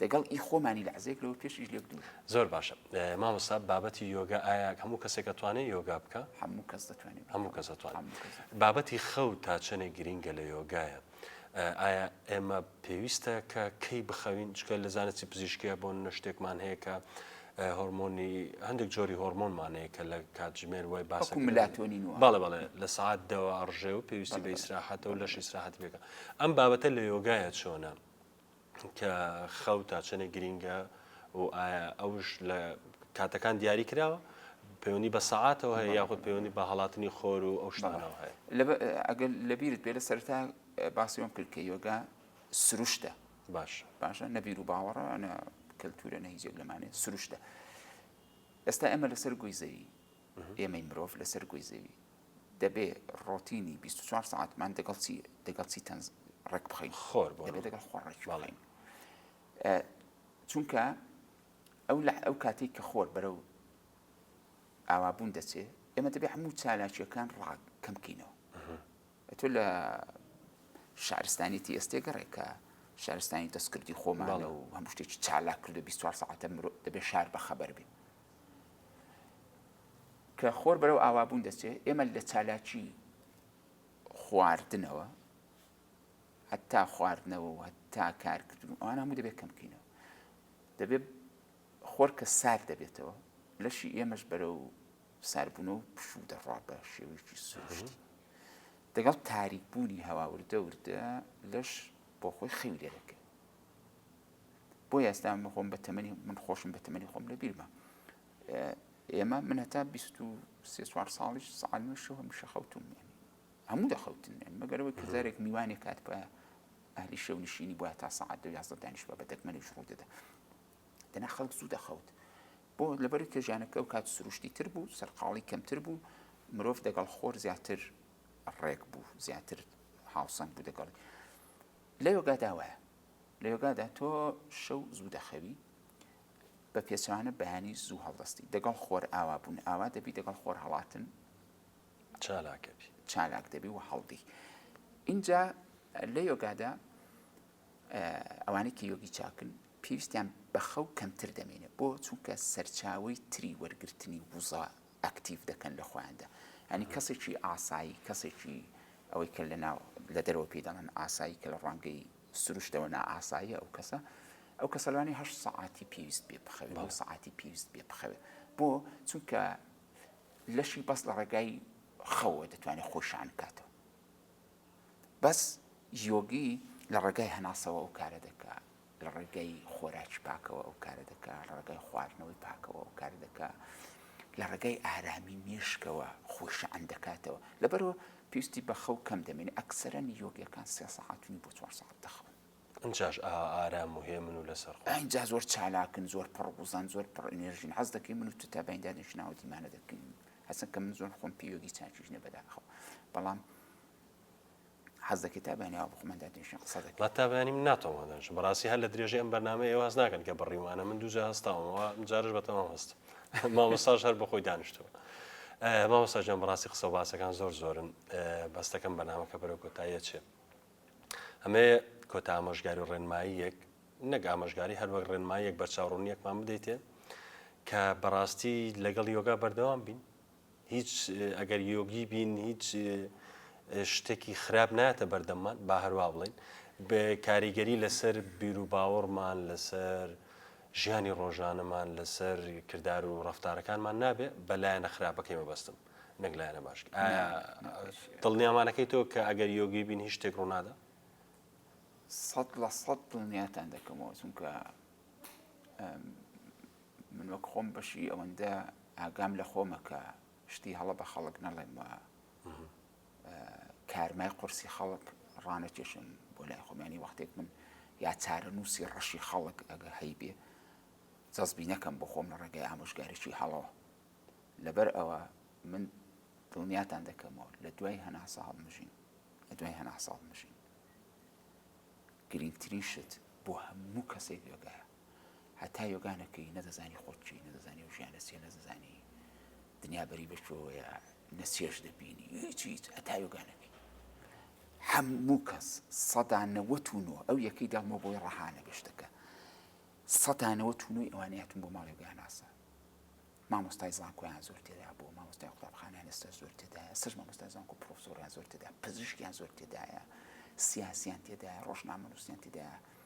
[SPEAKER 2] دەگەڵ ئی خۆمانی لەحزەیەک لەوە پێشیش لێک دوور. زۆر باشە
[SPEAKER 1] مامۆستا بابەتی یۆگا ئایا هەموو کەسێک ئەتوانێ یۆگا بکە
[SPEAKER 2] هەموو کەس دەتوانێت هەموو کەس
[SPEAKER 1] ئەتوانێت بابەتی خەو تا چەنێک گرینگە لە یۆگایە ئایا ئێمە پێویستە کە کەی بخەوین چکە لە زانستی پزیشکیە بۆ نەشتێکمان هەیە کە هۆرمۆنی هەندێک جۆری هۆرمۆنمانەیە کە لە کاتژمێر وای باس ملاتۆنین و بەڵێ بەڵێ لە سعات دەوە ڕژێ و پێویستی بە ئیسراحەتە و لەش ئیسراحەت بێکە ئەم بابەتە لە یۆگایە چۆنە کە خەو تا چەنێک گرینگە و ئایا ئەوش لە کاتەکان دیاری کراوە پەیوەندی بە سەعاتەوە هەیە یاخود پەیوەندی بە هەڵاتنی خۆر و ئەو شتانەوە هەیە ئەگەر
[SPEAKER 2] لەبیرت بێ لە سەرتا باسیۆم کرد کە یۆگا سروشتە باش باشە نەبیر و باوەڕە کەلتورە نەهیزێک لەمانێ سروشتە ئێستا ئێمە لەسەر گوی زەوی ئێمەی مرۆڤ لەسەر گۆی زەوی دەبێ ڕۆتینی بیست و چوار سەعاتمان دەگەڵ چی دەگەڵ چی تەنز ڕێک بخەین؟ خۆر بۆ دەبێ دەگەڵ خۆر ڕێک بخەین چونکە ئەو لە ئەو کاتێک کە خۆر بەرەو ئاوابوون دەچێ ئێمە دەبێ هەموو چالاکیەکان ڕاک کەم بکەینەوە تۆ لە شارستانیتی ئێستێگەڕێکە شارستانی دەستکردی خۆمانە و هەموو شتێکی چالاک کردو 24 ساعتە مرۆ دەبێت شار بەخەبەر بێ کە خۆر بەرەو ئاوابوون دەچێت، ئێمە لە چالاکی خواردنەوە هەتا خواردنەوە و هەتا کارکردن و ئەوان هەموو دەبێت کەم بکەینەوە. دەبێت خۆر کە سارد دەبێتەوە، لەشی ئێمەش بەرەو ساربوون و پشوو دەڕوا بە شێوەیەکی سروشتی. دەگەڵ تاریکبوونی هەوا وردە وردە لەش بۆ خۆی خەوی لێ دەکرد. بۆ ئێستا من خۆم بە تەمەنی من خۆشم بە تەمەنی خۆم لە بیرمە ئێمە من هەتا 24 ساڵیش ساڵمەشەوە هەمیشە خەوتم نیە هەموو دەخەوتن نێن مەگەرەوەی کەزارێک میوانێک کات بە ئەهلی شەو نشینی بووە تا سعات دو یازدە دانیش بە دەگمەنیش ڕوو دەدا دەنا خەڵک زوو دەخەوت بۆ لەبەر کێژانەکە و کات سروشتی تر بوو سەرقاڵی کەمتر بوو مرۆڤ دەگەڵ خۆر زیاتر ڕێک بوو زیاتر هاوسەنگ بوو دەگەڵی لەوێگا داوایە لە یۆگادا تۆ شەو زوو دەخەوی بە پێچوانە بەیانی زوو هەڵدەستی دەگەڵ خۆر ئاوا بوون ئاوا دەبی دەگەڵ خۆر هەڵاتن چالاکەبی چالاک دەبی و هەڵدی اینجا لە یۆگادا ئەوانێکی یۆگی چاکن پێویستیان بەخەو کەمتر دەمێنێت بۆ چونکە سەرچاوی تری وەرگرتنی وزە ئەکتیڤ دەکەن لە خۆیاندا یانی کەسێکی ئاسایی کەسێکی ئەوەی کە لە ناو لە دەرەوە پێی دەڵێن ئاسایی کە لە ڕوانگەی سروشتەوە نائاساییە ئەو کەسە ئەو کەسە لەوانی هەشت سەعاتی پێویست پێ بخەوێ دوو سەعاتی پێویست پێ بخەوێ بۆ چونکە لەشی بەس لە ڕێگای خەوە دەتوانێت خۆی شان بکاتەوە بەس یۆگی لە ڕێگای هەناسەوە ئەو کارە دەکات لە ڕێگای خۆراکی پاکەوە ئەو کارە دەکا، لە ڕێگای خواردنەوەی پاکەوە ئەو کارە دەکا، لە ڕێگای ئارامی مێشکەوە خۆی شەحن دەکاتەوە، لەبەرئەوە پێویستی بە خەو کەم دەمێنێ، ئەکسەرەن یۆگیەکان سێ سەعات و نیو بۆ چوار سەعات دەخەون. ئینجاش ئاوا
[SPEAKER 1] ئارام و هێمن و لەسەرخۆن. ئینجا زۆر چالاکن،
[SPEAKER 2] زۆر پڕوزەن، زۆر پڕ ئینێرژین، حەز دەکەی من و تۆ تا بەیندا نەشیناوە دیمانە دەکەین، هەرچەند کە من زۆر خۆم پێ یۆگی چاکیش نیە بەداخەوە، بەڵام. حەز دەکەی تا بەیانی ئاوا بخۆمە دادێنشین قسە دەکەی ما تا بەیانی من ناتەوە
[SPEAKER 1] دانشم بەڕاستی هەر لە درێژەی ئەم بەرنامەیە ئێوە هەست ناکەن کە بڕیوانە من دووجا هەستاومەوە جارش بە تەمام هەست مامۆستاش هەر بەخۆی دانیشتەوە مامۆستا ژیان بەڕاستی قسە و باسەکان زۆر زۆرن بەستەکەم بەنامەکە بەرە کۆتاییە چێ ئەمێ کۆتا ئامۆژگاری و ڕێنمایی یەک نەک ئامۆژگاری هەر وەک ڕێنمایی یەک بەرچاوڕوونیەکمان بدەیتێ کە بەڕاستی لەگەڵ یۆگا بەردەوام بین هیچ ئەگەر یۆگی بین هیچ شتێکی خراپ ناتە بەردەممان با هەروە بڵین بە کاریگەری لەسەر بیروباوەڕمان لەسەر ژیانی ڕۆژانەمان لەسەر کردار و ڕفتارەکانمان نابێ بەلایەنە خراپەکەی مەبەستم نەک لایەنە باش دڵنیامانەکەی تۆ کە ئەگەر یۆگی بین هیچ شتێک ڕوونادا سەد لە
[SPEAKER 2] سەد دڵنیاتان دەکەمەوە چونکە من وەک خۆم بەشی ئەوەندە ئاگام لە خۆمە کە شتی هەڵە بە خەڵک نەڵێم و کارمای قورسی خەڵک ڕانەکێشم بۆ لای خۆمیانی وەختێک من یا چارەنووسی ڕەشی خەڵک ئەگە هەیبێ جەزبی نەکەم بۆ خۆم لە ڕێگەی ئامۆژگاریی هەڵەوە لەبەر ئەوە من دڵنیاتان دەکەمەوە لە دوای هەناسە هەڵمژین لە دوای هەناسە هەڵمژین گرنگترین شت بۆ هەموو کەسێک بێگایە هەتا یۆگا نەکەی نەدەزانی خۆت چی نەدەزانی و ژیانە چیە نەدەزانی دنیا بەری بەشۆیە نە چێش دەبینی هیچی هیچ هەتا یۆگا نەکەی هەموو کەس سەدا نەوەت و نۆ ئەو یەکەی داڵمە بۆی ڕەهانە گەشتەکە سەدا نەوەت و نوی ئەوانەیە تون بۆ ماڵی گەهناسە مامۆستای زانکۆیان زۆر تێدا بۆ مامۆستای قوتابخانیان ئێستا زۆر تێدایە سەر مامۆستای زانکۆ پرۆفسۆریان زۆر تێدا پزیشکیان زۆر تێدایە سیاسیان تێدایە ڕۆژنامەنووسیان تێدایە